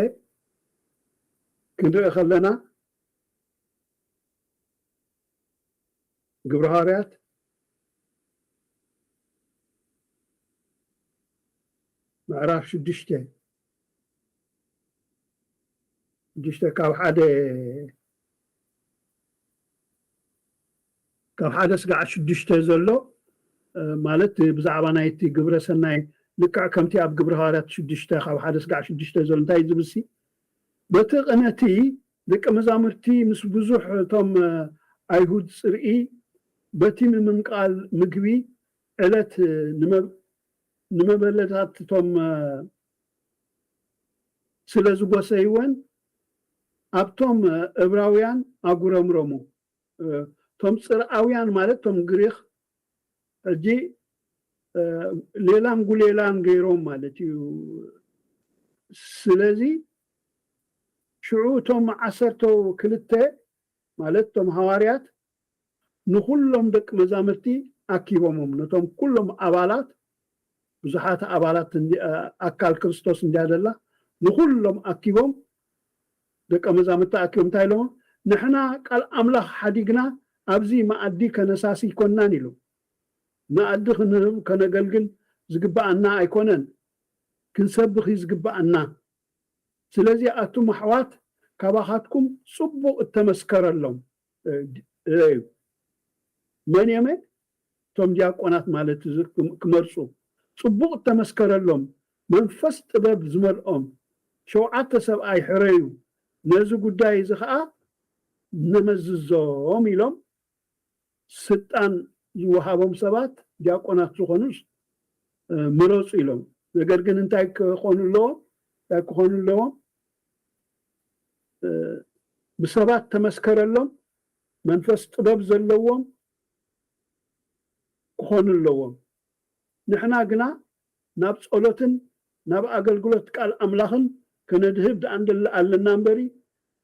ክንርኢ ከለና ግብረ ሃዋርያት ምዕራፍ ሽዱሽተ ሽዱሽተ ካብ ሓደ ካብ ሓደ ስጋዕ ሽዱሽተ ዘሎ ማለት ብዛዕባ ናይቲ ግብረ ሰናይ ልክዕ ከምቲ ኣብ ግብረ ሃዋርያት ሽዱሽተ ካብ ሓደ ስጋዕ ሽዱሽተ ዘሎ እንታይ ዝብልሲ በቲ ቅነቲ ደቀ መዛሙርቲ ምስ ብዙሕ እቶም ኣይሁድ ጽርኢ በቲ ምምንቃል ምግቢ ዕለት ንመበለታትቶም ስለ ዝጎሰይወን ኣብቶም እብራውያን ኣጉረምረሙ። እቶም ጽርኣውያን ማለት እቶም ግሪኽ ሕጂ ሌላም ጉሌላም ገይሮም ማለት እዩ ስለዚ ሽዑ እቶም ዓሰርተ ክልተ ማለት እቶም ሃዋርያት ንኹሎም ደቂ መዛምርቲ ኣኪቦሞም ነቶም ኩሎም ኣባላት ብዙሓት ኣባላት ኣካል ክርስቶስ እንድያ ዘላ ንኹሎም ኣኪቦም ደቀ መዛምድቲ ኣኪዮም እንታይ ኢሎሞም ንሕና ቃል ኣምላኽ ሓዲግና ኣብዚ መኣዲ ከነሳሲ ኣይኮናን ኢሉ መኣዲ ክንህብ ከነገልግል ዝግብኣና ኣይኮነን ክንሰብኽ እዩ ዝግብኣና ስለዚ ኣቱም ኣሕዋት ካባኻትኩም ጽቡቕ እተመስከረሎም እዩ መን እዮመ እቶም ዲያቆናት ማለት እዚ ክመርጹ ጽቡቕ እተመስከረሎም መንፈስ ጥበብ ዝመልኦም ሸውዓተ ሰብኣይ ሕረዩ፣ ነዚ ጉዳይ እዚ ኸኣ ነመዝዞም ኢሎም ስልጣን ዝወሃቦም ሰባት ዲያቆናት ዝኾኑስ ምረጹ ኢሎም። ነገር ግን እንታይ ክኾኑ ኣለዎም እንታይ ክኾኑ ኣለዎም ብሰባት ተመስከረሎም መንፈስ ጥበብ ዘለዎም ክኾኑ ኣለዎም። ንሕና ግና ናብ ጸሎትን ናብ ኣገልግሎት ቃል ኣምላኽን ከነድህብ ደኣ ንደሊ ኣለና እምበሪ፣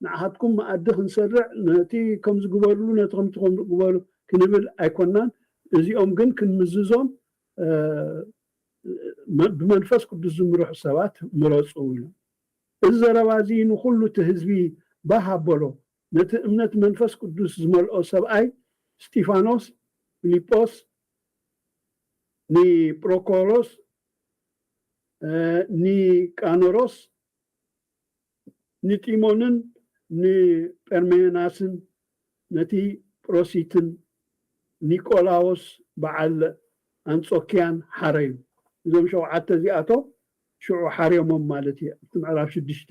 ንዓኻትኩም መኣዲ ክንሰርዕ ነቲ ከምዚ ግበርሉ ነቲ ከምቲ ከምኡ ግበሩ ክንብል ኣይኮናን፣ እዚኦም ግን ክንምዝዞም ብመንፈስ ቅዱስ ዝምርሑ ሰባት ምረጹ ኢሎም። እዚ ዘረባ እዚ ንኹሉ እቲ ህዝቢ ባህ ኣበሎ፣ ነቲ እምነት መንፈስ ቅዱስ ዝመልኦ ሰብኣይ እስጢፋኖስ፣ ፊልጶስ፣ ኒጵሮኮሮስ፣ ኒቃኖሮስ፣ ንጢሞንን ንጰርሜናስን፣ ነቲ ጵሮሲትን ኒቆላዎስ በዓል ኣንጾክያን ሓረዩ። እዞም ሸውዓተ እዚኣቶም ሽዑ ሓርዮሞም ማለት እየ ኣብቲ ምዕራፍ ሽዱሽተ።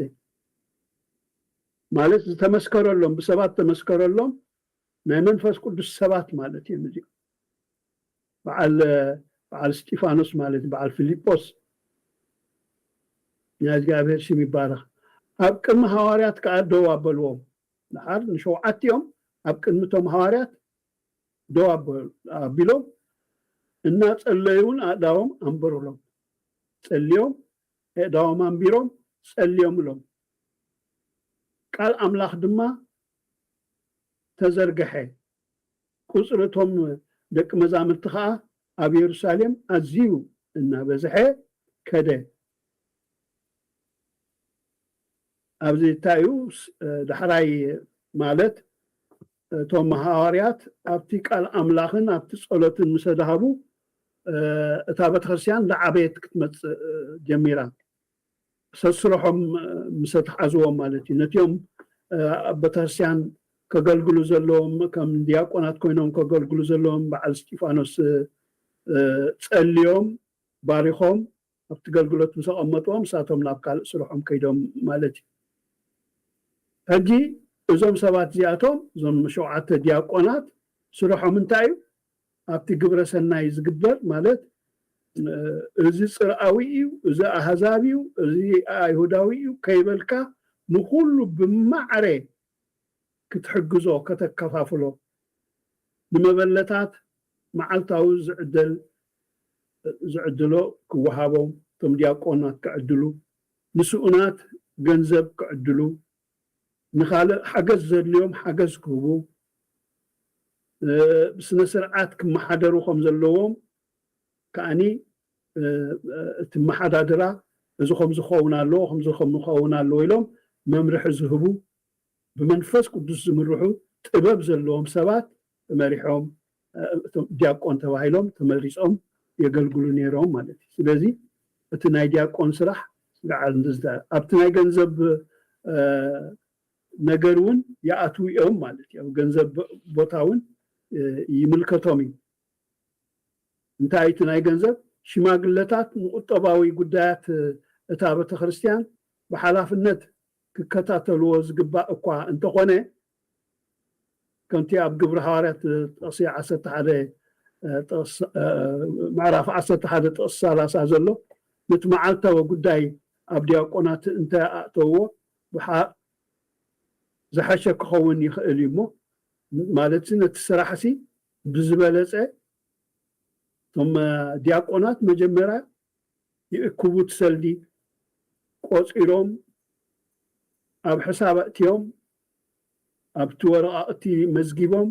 ማለት ዝተመስከረሎም ብሰባት ዝተመስከረሎም ናይ መንፈስ ቅዱስ ሰባት ማለት እዮም እዚኦም በዓል በዓል እስጢፋኖስ ማለት በዓል ፊልጶስ ናይ እግዚኣብሔር ሽም ይባረኽ ኣብ ቅድሚ ሃዋርያት ከዓ ደው ኣበልዎም ድሓር ንሸውዓቲኦም ኣብ ቅድሚ እቶም ሃዋርያት ደው ኣቢሎም እናጸለዩን ኣእዳዎም ኣንበሩሎም ጸልዮም ኣእዳዎም ኣንቢሮም ጸልዮምሎም ቃል ኣምላኽ ድማ ተዘርግሐ፣ ቍጽሪ እቶም ደቂ መዛሙርቲ ኸኣ ኣብ የሩሳሌም ኣዝዩ እናበዝሐ ከደ። ኣብዚ እንታይ እዩ ዳሕራይ ማለት እቶም ሃዋርያት ኣብቲ ቃል ኣምላኽን ኣብቲ ጸሎትን ምሰ ደሃቡ እታ ቤተክርስትያን ዳዓበየት ክትመጽእ ጀሚራ። ሰስርሖም ምሰ ተሓዝዎም ማለት እዩ ነቲኦም ኣብ በተክርስቲያን ከገልግሉ ዘለዎም ከም ድያቆናት ኮይኖም ከገልግሉ ዘለዎም በዓል እስጢፋኖስ ጸልዮም ባሪኾም ኣብቲ ገልግሎት ምስ ኣቐመጥዎም ንሳቶም ናብ ካልእ ስርሖም ከይዶም ማለት እዩ ሕጂ እዞም ሰባት እዚኣቶም እዞም ሸውዓተ ድያቆናት ስርሖም እንታይ እዩ ኣብቲ ግብረ ሰናይ ዝግበር ማለት እዚ ጽርኣዊ እዩ እዚ ኣህዛብ እዩ እዚ ኣይሁዳዊ እዩ ከይበልካ ንኹሉ ብማዕረ ክትሕግዞ ከተከፋፍሎ ንመበለታት መዓልታዊ ዝዕደል ዝዕድሎ ክወሃቦም እቶም ዲያቆናት ክዕድሉ ንስኡናት ገንዘብ ክዕድሉ ንኻልእ ሓገዝ ዘድልዮም ሓገዝ ክህቡ፣ ብስነ ስርዓት ክመሓደሩ ከም ዘለዎም ከኣ እቲ ኣመሓዳድራ እዚ ከምዚ ክኸውን ኣለዎ ከምዚ ክኸውን ኣለዎ ኢሎም መምርሒ ዝህቡ ብመንፈስ ቅዱስ ዝምርሑ ጥበብ ዘለዎም ሰባት ተመሪሖም እቶም ዲያቆን ተባሂሎም ተመሪጾም የገልግሉ ነይሮም ማለት እዩ። ስለዚ እቲ ናይ ዲያቆን ስራሕ ልዓል ንዝተ ኣብቲ ናይ ገንዘብ ነገር እውን ይኣትዉ እዮም ማለት እዩ። ኣብ ገንዘብ ቦታ እውን ይምልከቶም እዩ። እንታይ እቲ ናይ ገንዘብ ሽማግለታት ንቁጠባዊ ጉዳያት እታ ቤተ ክርስቲያን ብሓላፍነት ክከታተልዎ ዝግባእ እኳ እንተኾነ ከምቲ ኣብ ግብሪ ሃዋርያት ጥቕሲ ዓሰርተ ሓደ ምዕራፍ ዓሰርተ ሓደ ጥቕሲ ሰላሳ ዘሎ ነቲ መዓልታዊ ጉዳይ ኣብ ዲያቆናት እንተ ኣእተውዎ ዝሓሸ ክኸውን ይኽእል እዩ እሞ ማለትሲ ነቲ ስራሕሲ ብዝበለጸ እቶም ዲያቆናት መጀመርያ ይእክቡት ሰልዲ ቆጺሮም ኣብ ሕሳብ ኣእትዮም ኣብቲ ወረቓቕቲ መዝጊቦም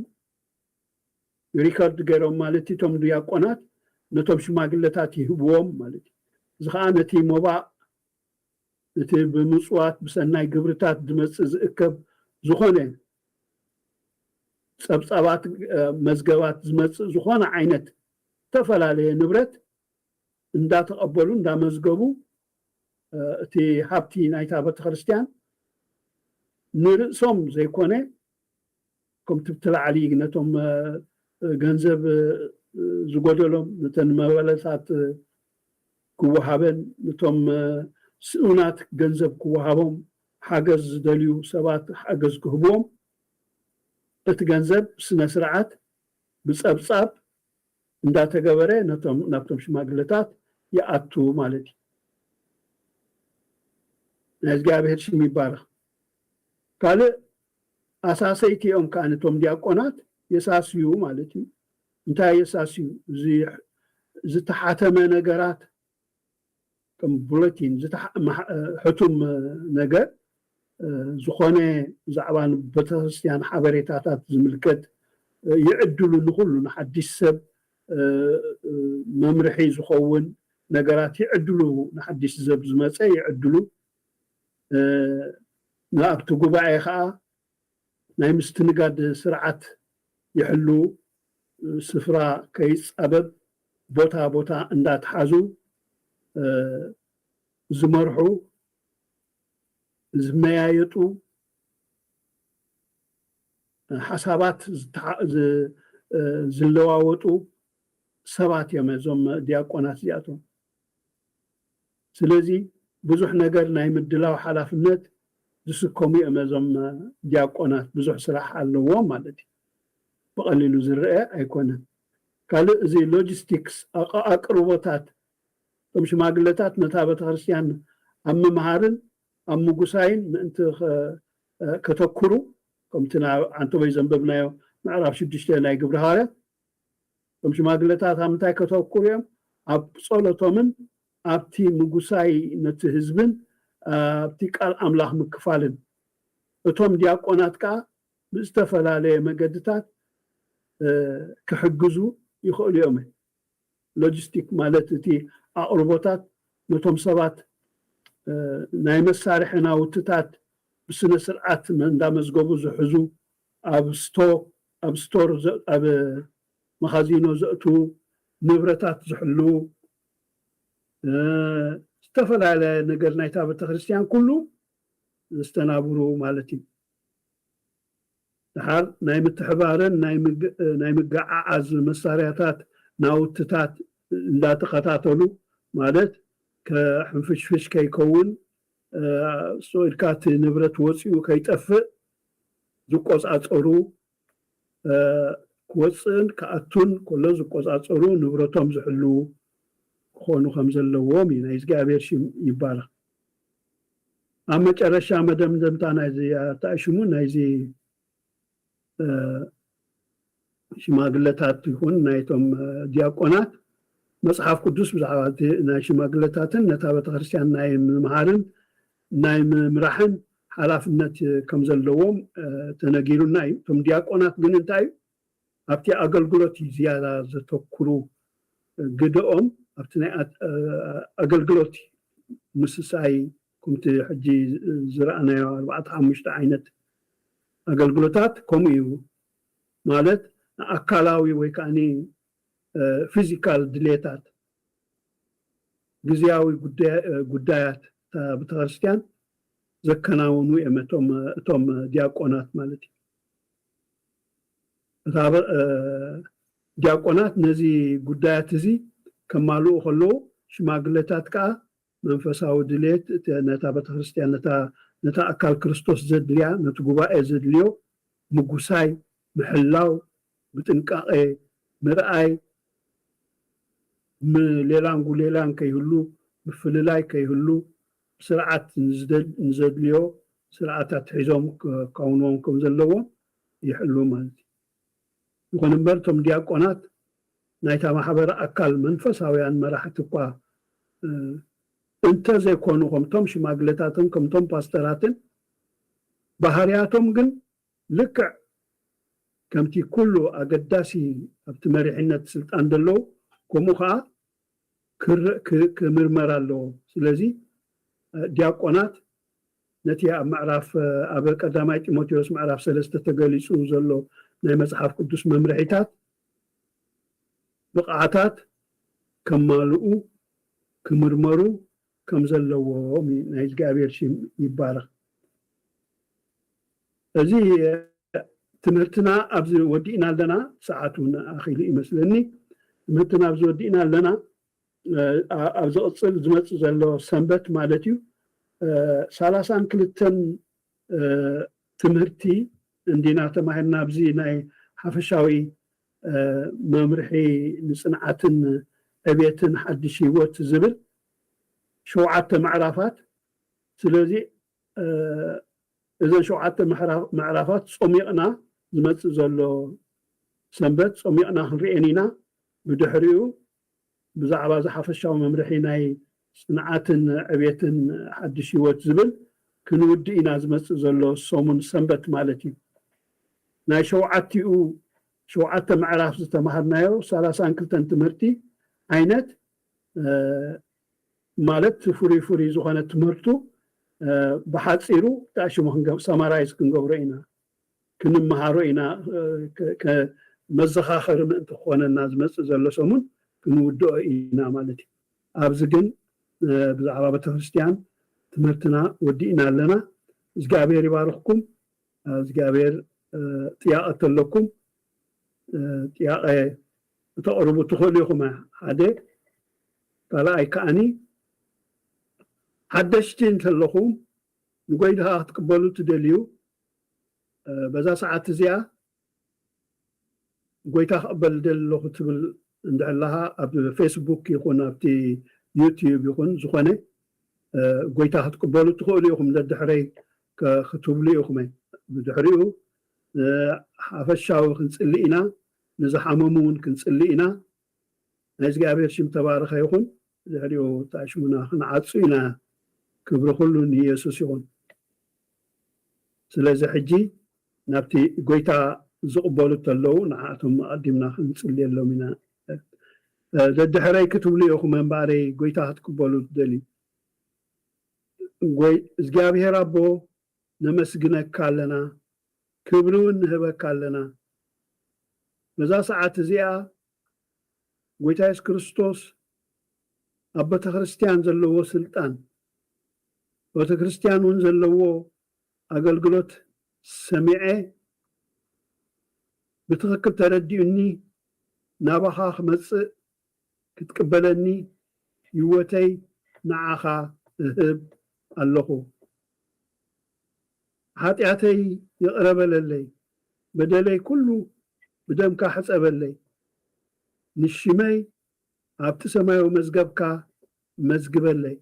ሪከርድ ገይሮም ማለት እዩ እቶም ድያቆናት ነቶም ሽማግለታት ይህብዎም ማለት እዩ እዚ ኸኣ ነቲ ሞባእ ነቲ ብምጽዋት ብሰናይ ግብርታት ዝመጽእ ዝእከብ ዝኾነ ጸብጻባት መዝገባት ዝመጽእ ዝኾነ ዓይነት እተፈላለየ ንብረት እንዳተቐበሉ እንዳመዝገቡ እቲ ሃብቲ ናይታ ቤተክርስትያን ንርእሶም ዘይኮነ ከምቲ ኣብቲ ላዕሊ ነቶም ገንዘብ ዝጎደሎም ነተን መበለታት ክወሃበን ነቶም ስኡናት ገንዘብ ክወሃቦም ሓገዝ ዝደልዩ ሰባት ሓገዝ ክህብዎም እቲ ገንዘብ ብስነስርዓት ብጸብጻብ እንዳተገበረ ነቶም ናብቶም ሽማግለታት ይኣቱ ማለት እዩ። ናይ እግዚኣብሔር ሽም ይባረኽ። ካልእ ኣሳሰይቲ እዮም ከኣ እቶም ዲያቆናት የሳስዩ ማለት እዩ። እንታይ የሳስዩ? ዝተሓተመ ነገራት ከም ቡለቲን ሕቱም ነገር ዝኾነ ብዛዕባ ንቤተክርስትያን ሓበሬታታት ዝምልከት ይዕድሉ ንኹሉ ንሓዲሽ ሰብ መምርሒ ዝኸውን ነገራት ይዕድሉ ንሓዲሽ ዘብ ዝመጸ ይዕድሉ ንኣብቲ ጉባኤ ከኣ ናይ ምስትንጋድ ስርዓት ይሕልዉ። ስፍራ ከይፃበብ ቦታ ቦታ እንዳትሓዙ ዝመርሑ፣ ዝመያየጡ፣ ሓሳባት ዝለዋወጡ ሰባት እዮም እዞም ዲያቆናት እዚኣቶም። ስለዚ ብዙሕ ነገር ናይ ምድላው ሓላፍነት ዝስከሙ እዮም እዞም ዲያቆናት ብዙሕ ስራሕ ኣለዎም ማለት እዩ ብቀሊሉ ዝረኤ ኣይኮነን ካልእ እዚ ሎጂስቲክስ ኣኣቅርቦታት እቶም ሽማግለታት ነታ ቤተክርስትያን ኣብ ምምሃርን ኣብ ምጉሳይን ምእንቲ ከተኩሩ ከምቲ ናብ ዓንተቦይ ዘንበብናዮ ምዕራፍ ሽዱሽተ ናይ ግብሪ ሃዋርያት እቶም ሽማግለታት ኣብ ምንታይ ከተኩሩ እዮም? ኣብ ጸሎቶምን ኣብቲ ምጉሳይ ነቲ ህዝብን ኣብቲ ቃል ኣምላኽ ምክፋልን። እቶም ዲያቆናት ከኣ ብዝተፈላለየ መገድታት ክሕግዙ ይኸእሉ እዮም። ሎጂስቲክ ማለት እቲ ኣቕርቦታት ነቶም ሰባት ናይ መሳርሒ ናውትታት ብስነ ስርዓት እንዳመዝገቡ ዝሕዙ ኣብ ስቶ፣ ኣብ ስቶር፣ ኣብ መኻዚኖ ዘእትዉ፣ ንብረታት ዝሕልዉ፣ ዝተፈላለያ ነገር ናይታ ቤተክርስትያን ኩሉ ዘስተናብሩ ማለት እዩ። ደሓር ናይ ምትሕባርን ናይ ምግዓዓዝ መሳርያታት ናውትታት እንዳተኸታተሉ ማለት ሕንፍሽፍሽ ከይከውን፣ ስቕ ኢልካ እቲ ንብረት ወጺኡ ከይጠፍእ ዝቆፃፀሩ ክወፅእን ክኣቱን ከሎ ዝቆፃፀሩ ንብረቶም ዝሕልዉ ክኾኑ ከም ዘለዎም እዩ ናይ እግዚኣብሔር ሽም ይባረኽ ኣብ መጨረሻ መደምደምታ ናይዚ ኣርታኢ ሽሙ ናይዚ ሽማግለታት ይኹን ናይቶም ዲያቆናት መጽሓፍ ቅዱስ ብዛዕባ እቲ ናይ ሽማግለታትን ነታ ቤተክርስትያን ናይ ምምሃርን ናይ ምምራሕን ሓላፍነት ከም ዘለዎም ተነጊሩና እዩ እቶም ዲያቆናት ግን እንታይ እዩ ኣብቲ ኣገልግሎት እዩ ዝያዳ ዘተኩሩ ግደኦም ኣብቲ ናይ ኣገልግሎት እዩ ምስሳይ ከምቲ ሕጂ ዝረኣናዮ ኣርባዕተ ሓሙሽተ ዓይነት ኣገልግሎታት ከምኡ እዩ ማለት ንኣካላዊ ወይ ከኣ ፊዚካል ድሌታት ግዝያዊ ጉዳያት እታ ቤተክርስትያን ዘከናውኑ እዮም እቶም ዲያቆናት ማለት እዩ። እታ ዲያቆናት ነዚ ጉዳያት እዚ ከማልኡ ከለዉ ሽማግለታት ከኣ መንፈሳዊ ድሌት እቲ ነታ ቤተክርስትያን ነታ ነታ ኣካል ክርስቶስ ዘድልያ ነቲ ጉባኤ ዘድልዮ ምጉሳይ ምሕላው ብጥንቃቄ ምርኣይ ሌላን ጉሌላን ከይህሉ ምፍልላይ ከይህሉ ብስርዓት ንዘድልዮ ስርዓታት ሒዞም ከውንዎም ከምዘለዎም ይሕሉ ማለት እዩ። ይኹን እምበር እቶም ዲያቆናት ናይታ ማሕበር ኣካል መንፈሳውያን መራሕቲ እኳ እንተ ዘይኮኑ ከምቶም ሽማግለታትን ከምቶም ፓስተራትን ባህርያቶም ግን ልክዕ ከምቲ ኩሉ ኣገዳሲ ኣብቲ መሪሕነት ስልጣን ዘለዉ ከምኡ ከኣ ክምርመር ኣለዎ ስለዚ ዲያቆናት ነቲ ኣብ ምዕራፍ ኣብ ቀዳማይ ጢሞቴዎስ ምዕራፍ ሰለስተ ተገሊጹ ዘሎ ናይ መጽሓፍ ቅዱስ መምርሒታት ብቕዓታት ከማልኡ ክምርመሩ ከም ዘለዎም እዩ ናይ እግዚኣብሔር ሽም ይባረኽ እዚ ትምህርትና ኣብዚ ወዲእና ኣለና ሰዓት እውን ኣኺሉ ይመስለኒ ትምህርትና ኣብዚ ወዲእና ኣለና ኣብ ዝቕፅል ዝመፅእ ዘሎ ሰንበት ማለት እዩ ሰላሳን ክልተን ትምህርቲ እንዲና ተማሂርና ኣብዚ ናይ ሓፈሻዊ መምርሒ ንፅንዓትን ዕቤትን ሓድሽ ህይወት ዝብል ሸውዓተ ምዕራፋት ስለዚ እዘን ሸውዓተ ምዕራፋት ፆሚቕና ዝመፅእ ዘሎ ሰንበት ፆሚቕና ክንሪኤን ኢና ብድሕሪኡ ብዛዕባ እዚ ሓፈሻዊ መምርሒ ናይ ጽንዓትን ዕብየትን ሓድሽ ህይወት ዝብል ክንውድእ ኢና ዝመጽእ ዘሎ ሰሙን ሰንበት ማለት እዩ። ናይ ሸውዓቲኡ ሸውዓተ ምዕራፍ ዝተማሃርናዮ ሰላሳን ክልተን ትምህርቲ ዓይነት ማለት ፍሩይ ፍሩይ ዝኾነ ትምህርቱ ብሓጺሩ ዳእሽሙ Summarize ክንገብሮ ኢና። ክንመሃሮ ኢና መዘኻኸሪ ምእንቲ ክኾነና ዝመጽእ ዘሎ ሰሙን ክንውድኦ ኢና ማለት እዩ ኣብዚ ግን ብዛዕባ ቤተክርስትያን ትምህርትና ወዲእና ኣለና እግዚኣብሔር ይባርኽኩም እግዚኣብሔር ጥያቐ እተለኩም ጥያቐ እተቕርቡ ትኽእሉ ኢኹም ሓደ ካልኣይ ከዓኒ ሓደሽቲ እንተለኹም ንጎይታ ክትቅበሉ ትደልዩ በዛ ሰዓት እዚኣ ጎይታ ክቕበል እደሊ ኣለኹ ትብል እንድሕር ኣለኻ ኣብ ፌስቡክ ይኹን ኣብቲ ዩቲዩብ ይኹን ዝኾነ ጎይታ ክትቅበሉ ትኽእሉ ኢኹም ደድሕረይ ክትብሉ ኢኹም ብድሕሪኡ ሓፈሻዊ ክንጽሊ ኢና ንዝሓመሙ እውን ክንጽሊ ኢና ናይ እግዚኣብሔር ሽም ተባረኸ ይኹን ብድሕሪኡ ተኣሽሙና ክንዓጹ ኢና ክብሪ ኩሉ ንየሱስ ይኹን ስለዚ ሕጂ ናብቲ ጎይታ ዝቅበሉ ተለዉ ንዓኣቶም ኣቀዲምና ክንጽልየሎም ኢና ደድሕረይ ክትብሉ ኢኹም እምበኣረይ ጎይታ ክትቅበሉ ትደልዩ ጎይ እዝግኣብሄር ኣቦ ነመስግነካ ኣለና ክብሪ ውን ንህበካ ኣለና በዛ ሰዓት እዚኣ ጐይታ የሱስ ክርስቶስ ኣብ በተክርስትያን ዘለዎ ስልጣን በተክርስትያን ውን ዘለዎ ኣገልግሎት ሰሚዐ ብትክክል ተረዲኡኒ ናባካ ክመጽእ ክትቅበለኒ ሂወተይ ንዓካ እህብ ኣለኩ። ሓጢኣተይ ይቕረ በለለይ በደለይ ኩሉ ብደምካ ሕጸበለይ ንሽመይ ኣብቲ ሰማያዊ መዝገብካ መዝግበለይ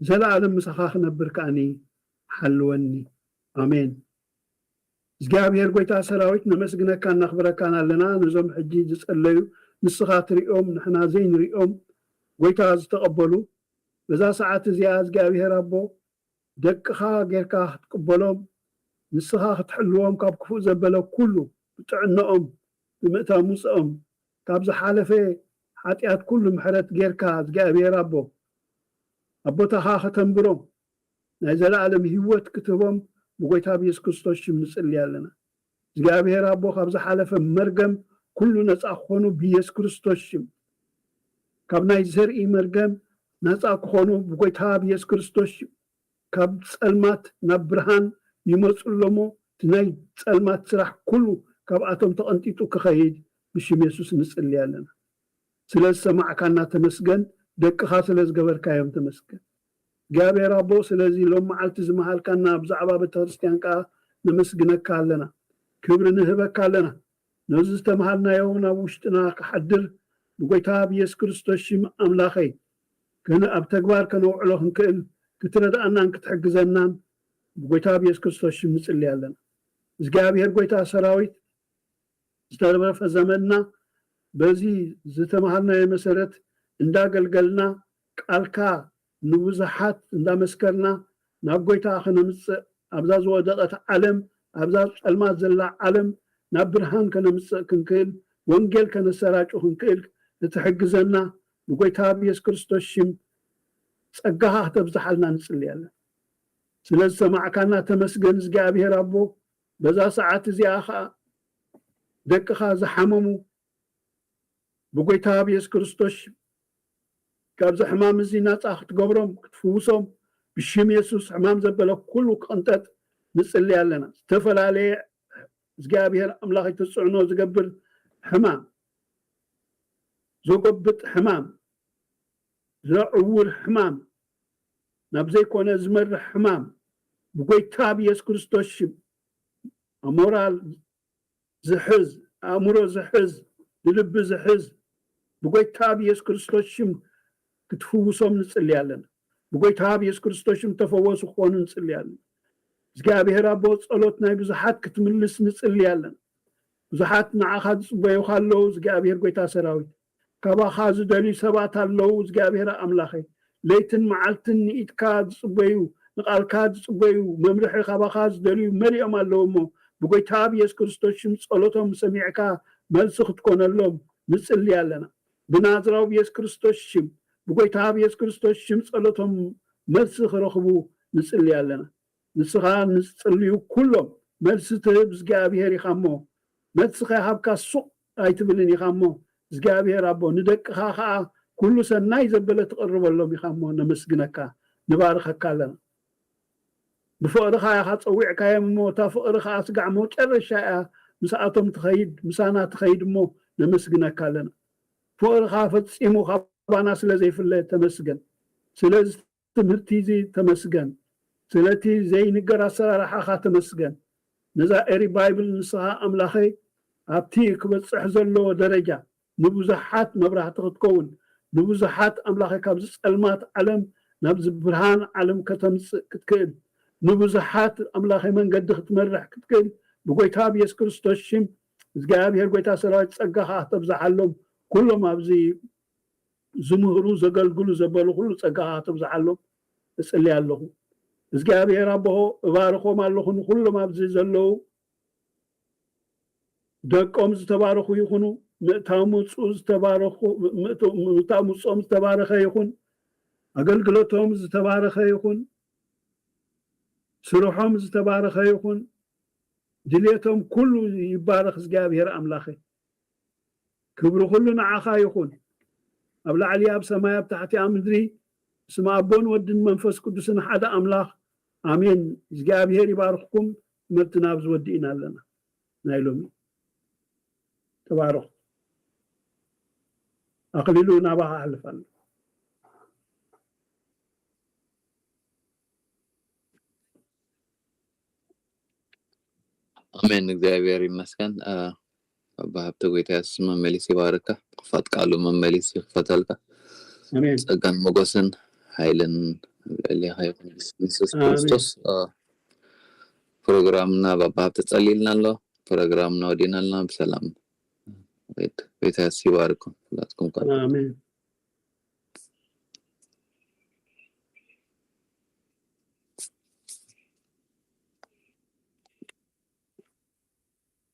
ንዘለኣለም ምሳኻ ክነብር ከኣኒ ሓልወኒ ኣሜን። እግዚኣብሔር ጎይታ ሰራዊት ነመስግነካን ነኽብረካን ኣለና ነዞም ሕጂ ዝጸለዩ ንስኻ ትርእዮም ንሕና ዘይንርእዮም ጎይታ ዝተቀበሉ በዛ ሰዓት እዚኣ እግዚኣብሔር ኣቦ ደቅኻ ጌርካ ክትቅበሎም ንስኻ ክትሕልዎም ካብ ክፉእ ዘበለ ኩሉ ብጥዕነኦም ብምእታው ምውጸኦም ካብ ዝሓለፈ ሓጥያት ኩሉ ምሕረት ጌርካ እግዚኣብሔር ኣቦ ኣብ ቦታኻ ከተንብሮም ናይ ዘለኣለም ሂወት ክትህቦም ብጎይታ ብየሱስ ክርስቶስ ሽም ንጽሊ ኣለና እግዚኣብሄር ኣቦ ካብ ዝሓለፈ መርገም ኩሉ ነጻ ክኾኑ ብየሱስ ክርስቶስ ሽም ካብ ናይ ዘርኢ መርገም ናጻ ክኾኑ ብጎይታ ብየሱስ ክርስቶስ ሽም ካብ ጸልማት ናብ ብርሃን ይመጹ ኣሎሞ እቲ ናይ ጸልማት ስራሕ ኩሉ ካብኣቶም ተቐንጢጡ ክኸይድ ብሽም የሱስ ንጽሊ ኣለና። ስለ ዝሰማዕካና ተመስገን ደቅኻ ስለ ዝገበርካዮም ተመስገን እግዚኣብሔር ኣቦ ስለዚ ሎም መዓልቲ ዝመሃልካና ብዛዕባ ቤተክርስትያን ከኣ ነመስግነካ ኣለና ክብሪ ንህበካ ኣለና ነዚ ዝተምሃርናዮ ውን ኣብ ውሽጥና ክሓድር ብጎይታ ብየሱስ ክርስቶስ ሽም ኣምላኸይ ከን ኣብ ተግባር ከነውዕሎ ክንክእል ክትረድኣናን ክትሕግዘናን ብጎይታ ብየሱስ ክርስቶስ ሽም ንጽሊ ኣለና እግዚኣብሔር ጎይታ ሰራዊት ዝተረፈ ዘመንና በዚ ዝተማሃርናዮ መሰረት እንዳገልገልና ቃልካ ንብዙሓት እንዳመስከርና ናብ ጎይታ ከነምጽእ ኣብዛ ዝወደቐት ዓለም ኣብዛ ጸልማት ዘላ ዓለም ናብ ብርሃን ከነምጽእ ክንክእል ወንጌል ከነሰራጩ ክንክእል ንትሕግዘና ብጎይታ ብየሱስ ክርስቶስ ሽም ጸጋኻ ክተብዝሓልና ንጽልይ ኣለና ስለ ዝሰማዕካና ተመስገን እዝግኣብሄር ኣቦ በዛ ሰዓት እዚኣ ኸኣ ደቅኻ ዝሓመሙ ብጐይታ ብየሱስ ክርስቶስ ሽም ካብዚ ሕማም እዚ ናጻ ክትገብሮም ክትፍውሶም ብሽም የሱስ ሕማም ዘበለ ኩሉ ክቕንጠጥ ንጽሊ ኣለና ዝተፈላለየ እግዚኣብሔር ኣምላኽ ይትጽዕኖ ዝገብር ሕማም ዘጎብጥ ሕማም ዘዕውር ሕማም ናብ ዘይኮነ ዝመርሕ ሕማም ብጎይታ ብየሱስ ክርስቶስ ሽም ኣሞራል ዝሕዝ ኣእምሮ ዝሕዝ ንልቢ ዝሕዝ ብጎይታ ብየሱስ ክርስቶስ ሽም ክትፍውሶም ንጽሊ ኣለና ብጎይታ ብየሱስ ክርስቶስ ሽም ተፈወሱ ክኾኑ ንጽሊ ኣለና እግዚኣብሔር ኣቦ ጸሎት ናይ ብዙሓት ክትምልስ ንጽሊ ኣለና ብዙሓት ንዓኻ ዝጽበዩኻ ኣለዉ እግዚኣብሔር ጎይታ ሰራዊት ካባኻ ዝደልዩ ሰባት ኣለዉ እዝግኣብሄር ኣምላኸይ ለይትን መዓልትን ንኢድካ ዝጽበዩ ንቓልካ ዝጽበዩ መምርሒ ካባኻ ዝደልዩ መሊኦም ኣለዉ እሞ ብጎይታ ብየሱስ ክርስቶስ ሽም ጸሎቶም ሰሚዕካ መልሲ ክትኮነሎም ንጽሊ ኣለና ብናዝራዊ ብየሱስ ክርስቶስ ሽም ብጎይታ ብየሱስ ክርስቶስ ሽም ጸሎቶም መልሲ ክረኽቡ ንጽሊ ኣለና ንስኻ ንዝጽልዩ ኩሎም መልሲ ትህብ እዝግኣብሄር ኢኻ እሞ መልሲ ከይሃብካ ሱቕ ኣይትብልን ኢኻ እሞ እዝግኣብሄር ኣቦ ንደቅኻ ከኣ ኩሉ ሰናይ ዘበለ ትቕርበሎም ኢኻ እሞ ነመስግነካ ንባርኸካ ኣለና ብፍቕርኻ ኢኻ ጸዊዕካዮም እሞ እታ ፍቕሪ ከኣ ስጋዕ መውጨረሻ ኢያ ምስኣቶም ትኸይድ ምሳና ትኸይድ እሞ ነመስግነካ ኣለና ፍቕርኻ ፈጺሙ ካባና ስለ ዘይፍለ ተመስገን ስለ ትምህርቲ እዚ ተመስገን ስለ እቲ ዘይንገር ኣሰራርሓኻ ተመስገን ነዛ ኤሪ ባይብል ንስኻ ኣምላኸይ ኣብቲ ክበጽሕ ዘለዎ ደረጃ ንብዙሓት መብራህቲ ክትከውን ንብዙሓት ኣምላኸይ ካብዚ ጸልማት ዓለም ናብዚ ብርሃን ዓለም ከተምጽእ ክትክእል ንብዙሓት ኣምላኸይ መንገዲ ክትመርሕ ክትክእል ብጎይታ ብየሱስ ክርስቶስ ሽም እግዚኣብሄር ጎይታ ሰራዊት ጸጋኻ ክተብዝሓሎም ኩሎም ኣብዚ ዝምህሩ ዘገልግሉ ዘበሉ ኩሉ ጸጋካቶም ዝዓሎም እጽሊ ኣለኩ እዝግኣብሄር ኣቦሆ እባርኮም ኣለኩ ንኩሎም ኣብዚ ዘለዉ ደቆም ዝተባረኩ ይኩኑ ምእታው ምውጽኡ ዝተባረኩ ምእታው ምውጽኦም ዝተባረከ ይኩን ኣገልግሎቶም ዝተባረከ ይኩን ስርሖም ዝተባረከ ይኩን ድልየቶም ኩሉ ይባረክ እዝግኣብሄር ኣምላከይ። ክብሪ ኩሉ ንዓኻ ይኹን ኣብ ላዕሊ ኣብ ሰማይ ኣብ ታሕቲ ኣብ ምድሪ ብስም ኣቦን ወድን መንፈስ ቅዱስን ሓደ ኣምላኽ ኣሜን እዝጊኣብሄር ይባርኽኩም ትምህርትና ኣብዚ ወዲእና ኣለና ናይ ሎሚ ተባረኹ ኣኽሊሉ ናባኻ ኣሕልፍ ኣሎ ኣሜን እግዚኣብሔር ይመስገን ኣባ ሃብተ ጎይታ የሱስ መመሊሱ ይባርካ ብክፋት ቃሉ መመሊሱ ይክፈተልካ ኣሜን ጸጋን ሞጎስን ሓይልን ኣብ ልዕሌካ ይኩን ብስም የሱስ ኣሜን ክርስቶስ እ፣ ፕሮግራምና ባባ ሃብተ ጸሊልና ኣሎ ፕሮግራምና ወዲእና ኣለና ብሰላም ሬድ ጎይታ የሱስ ይባርኩም ሁላትኩም ቃል ኣሜን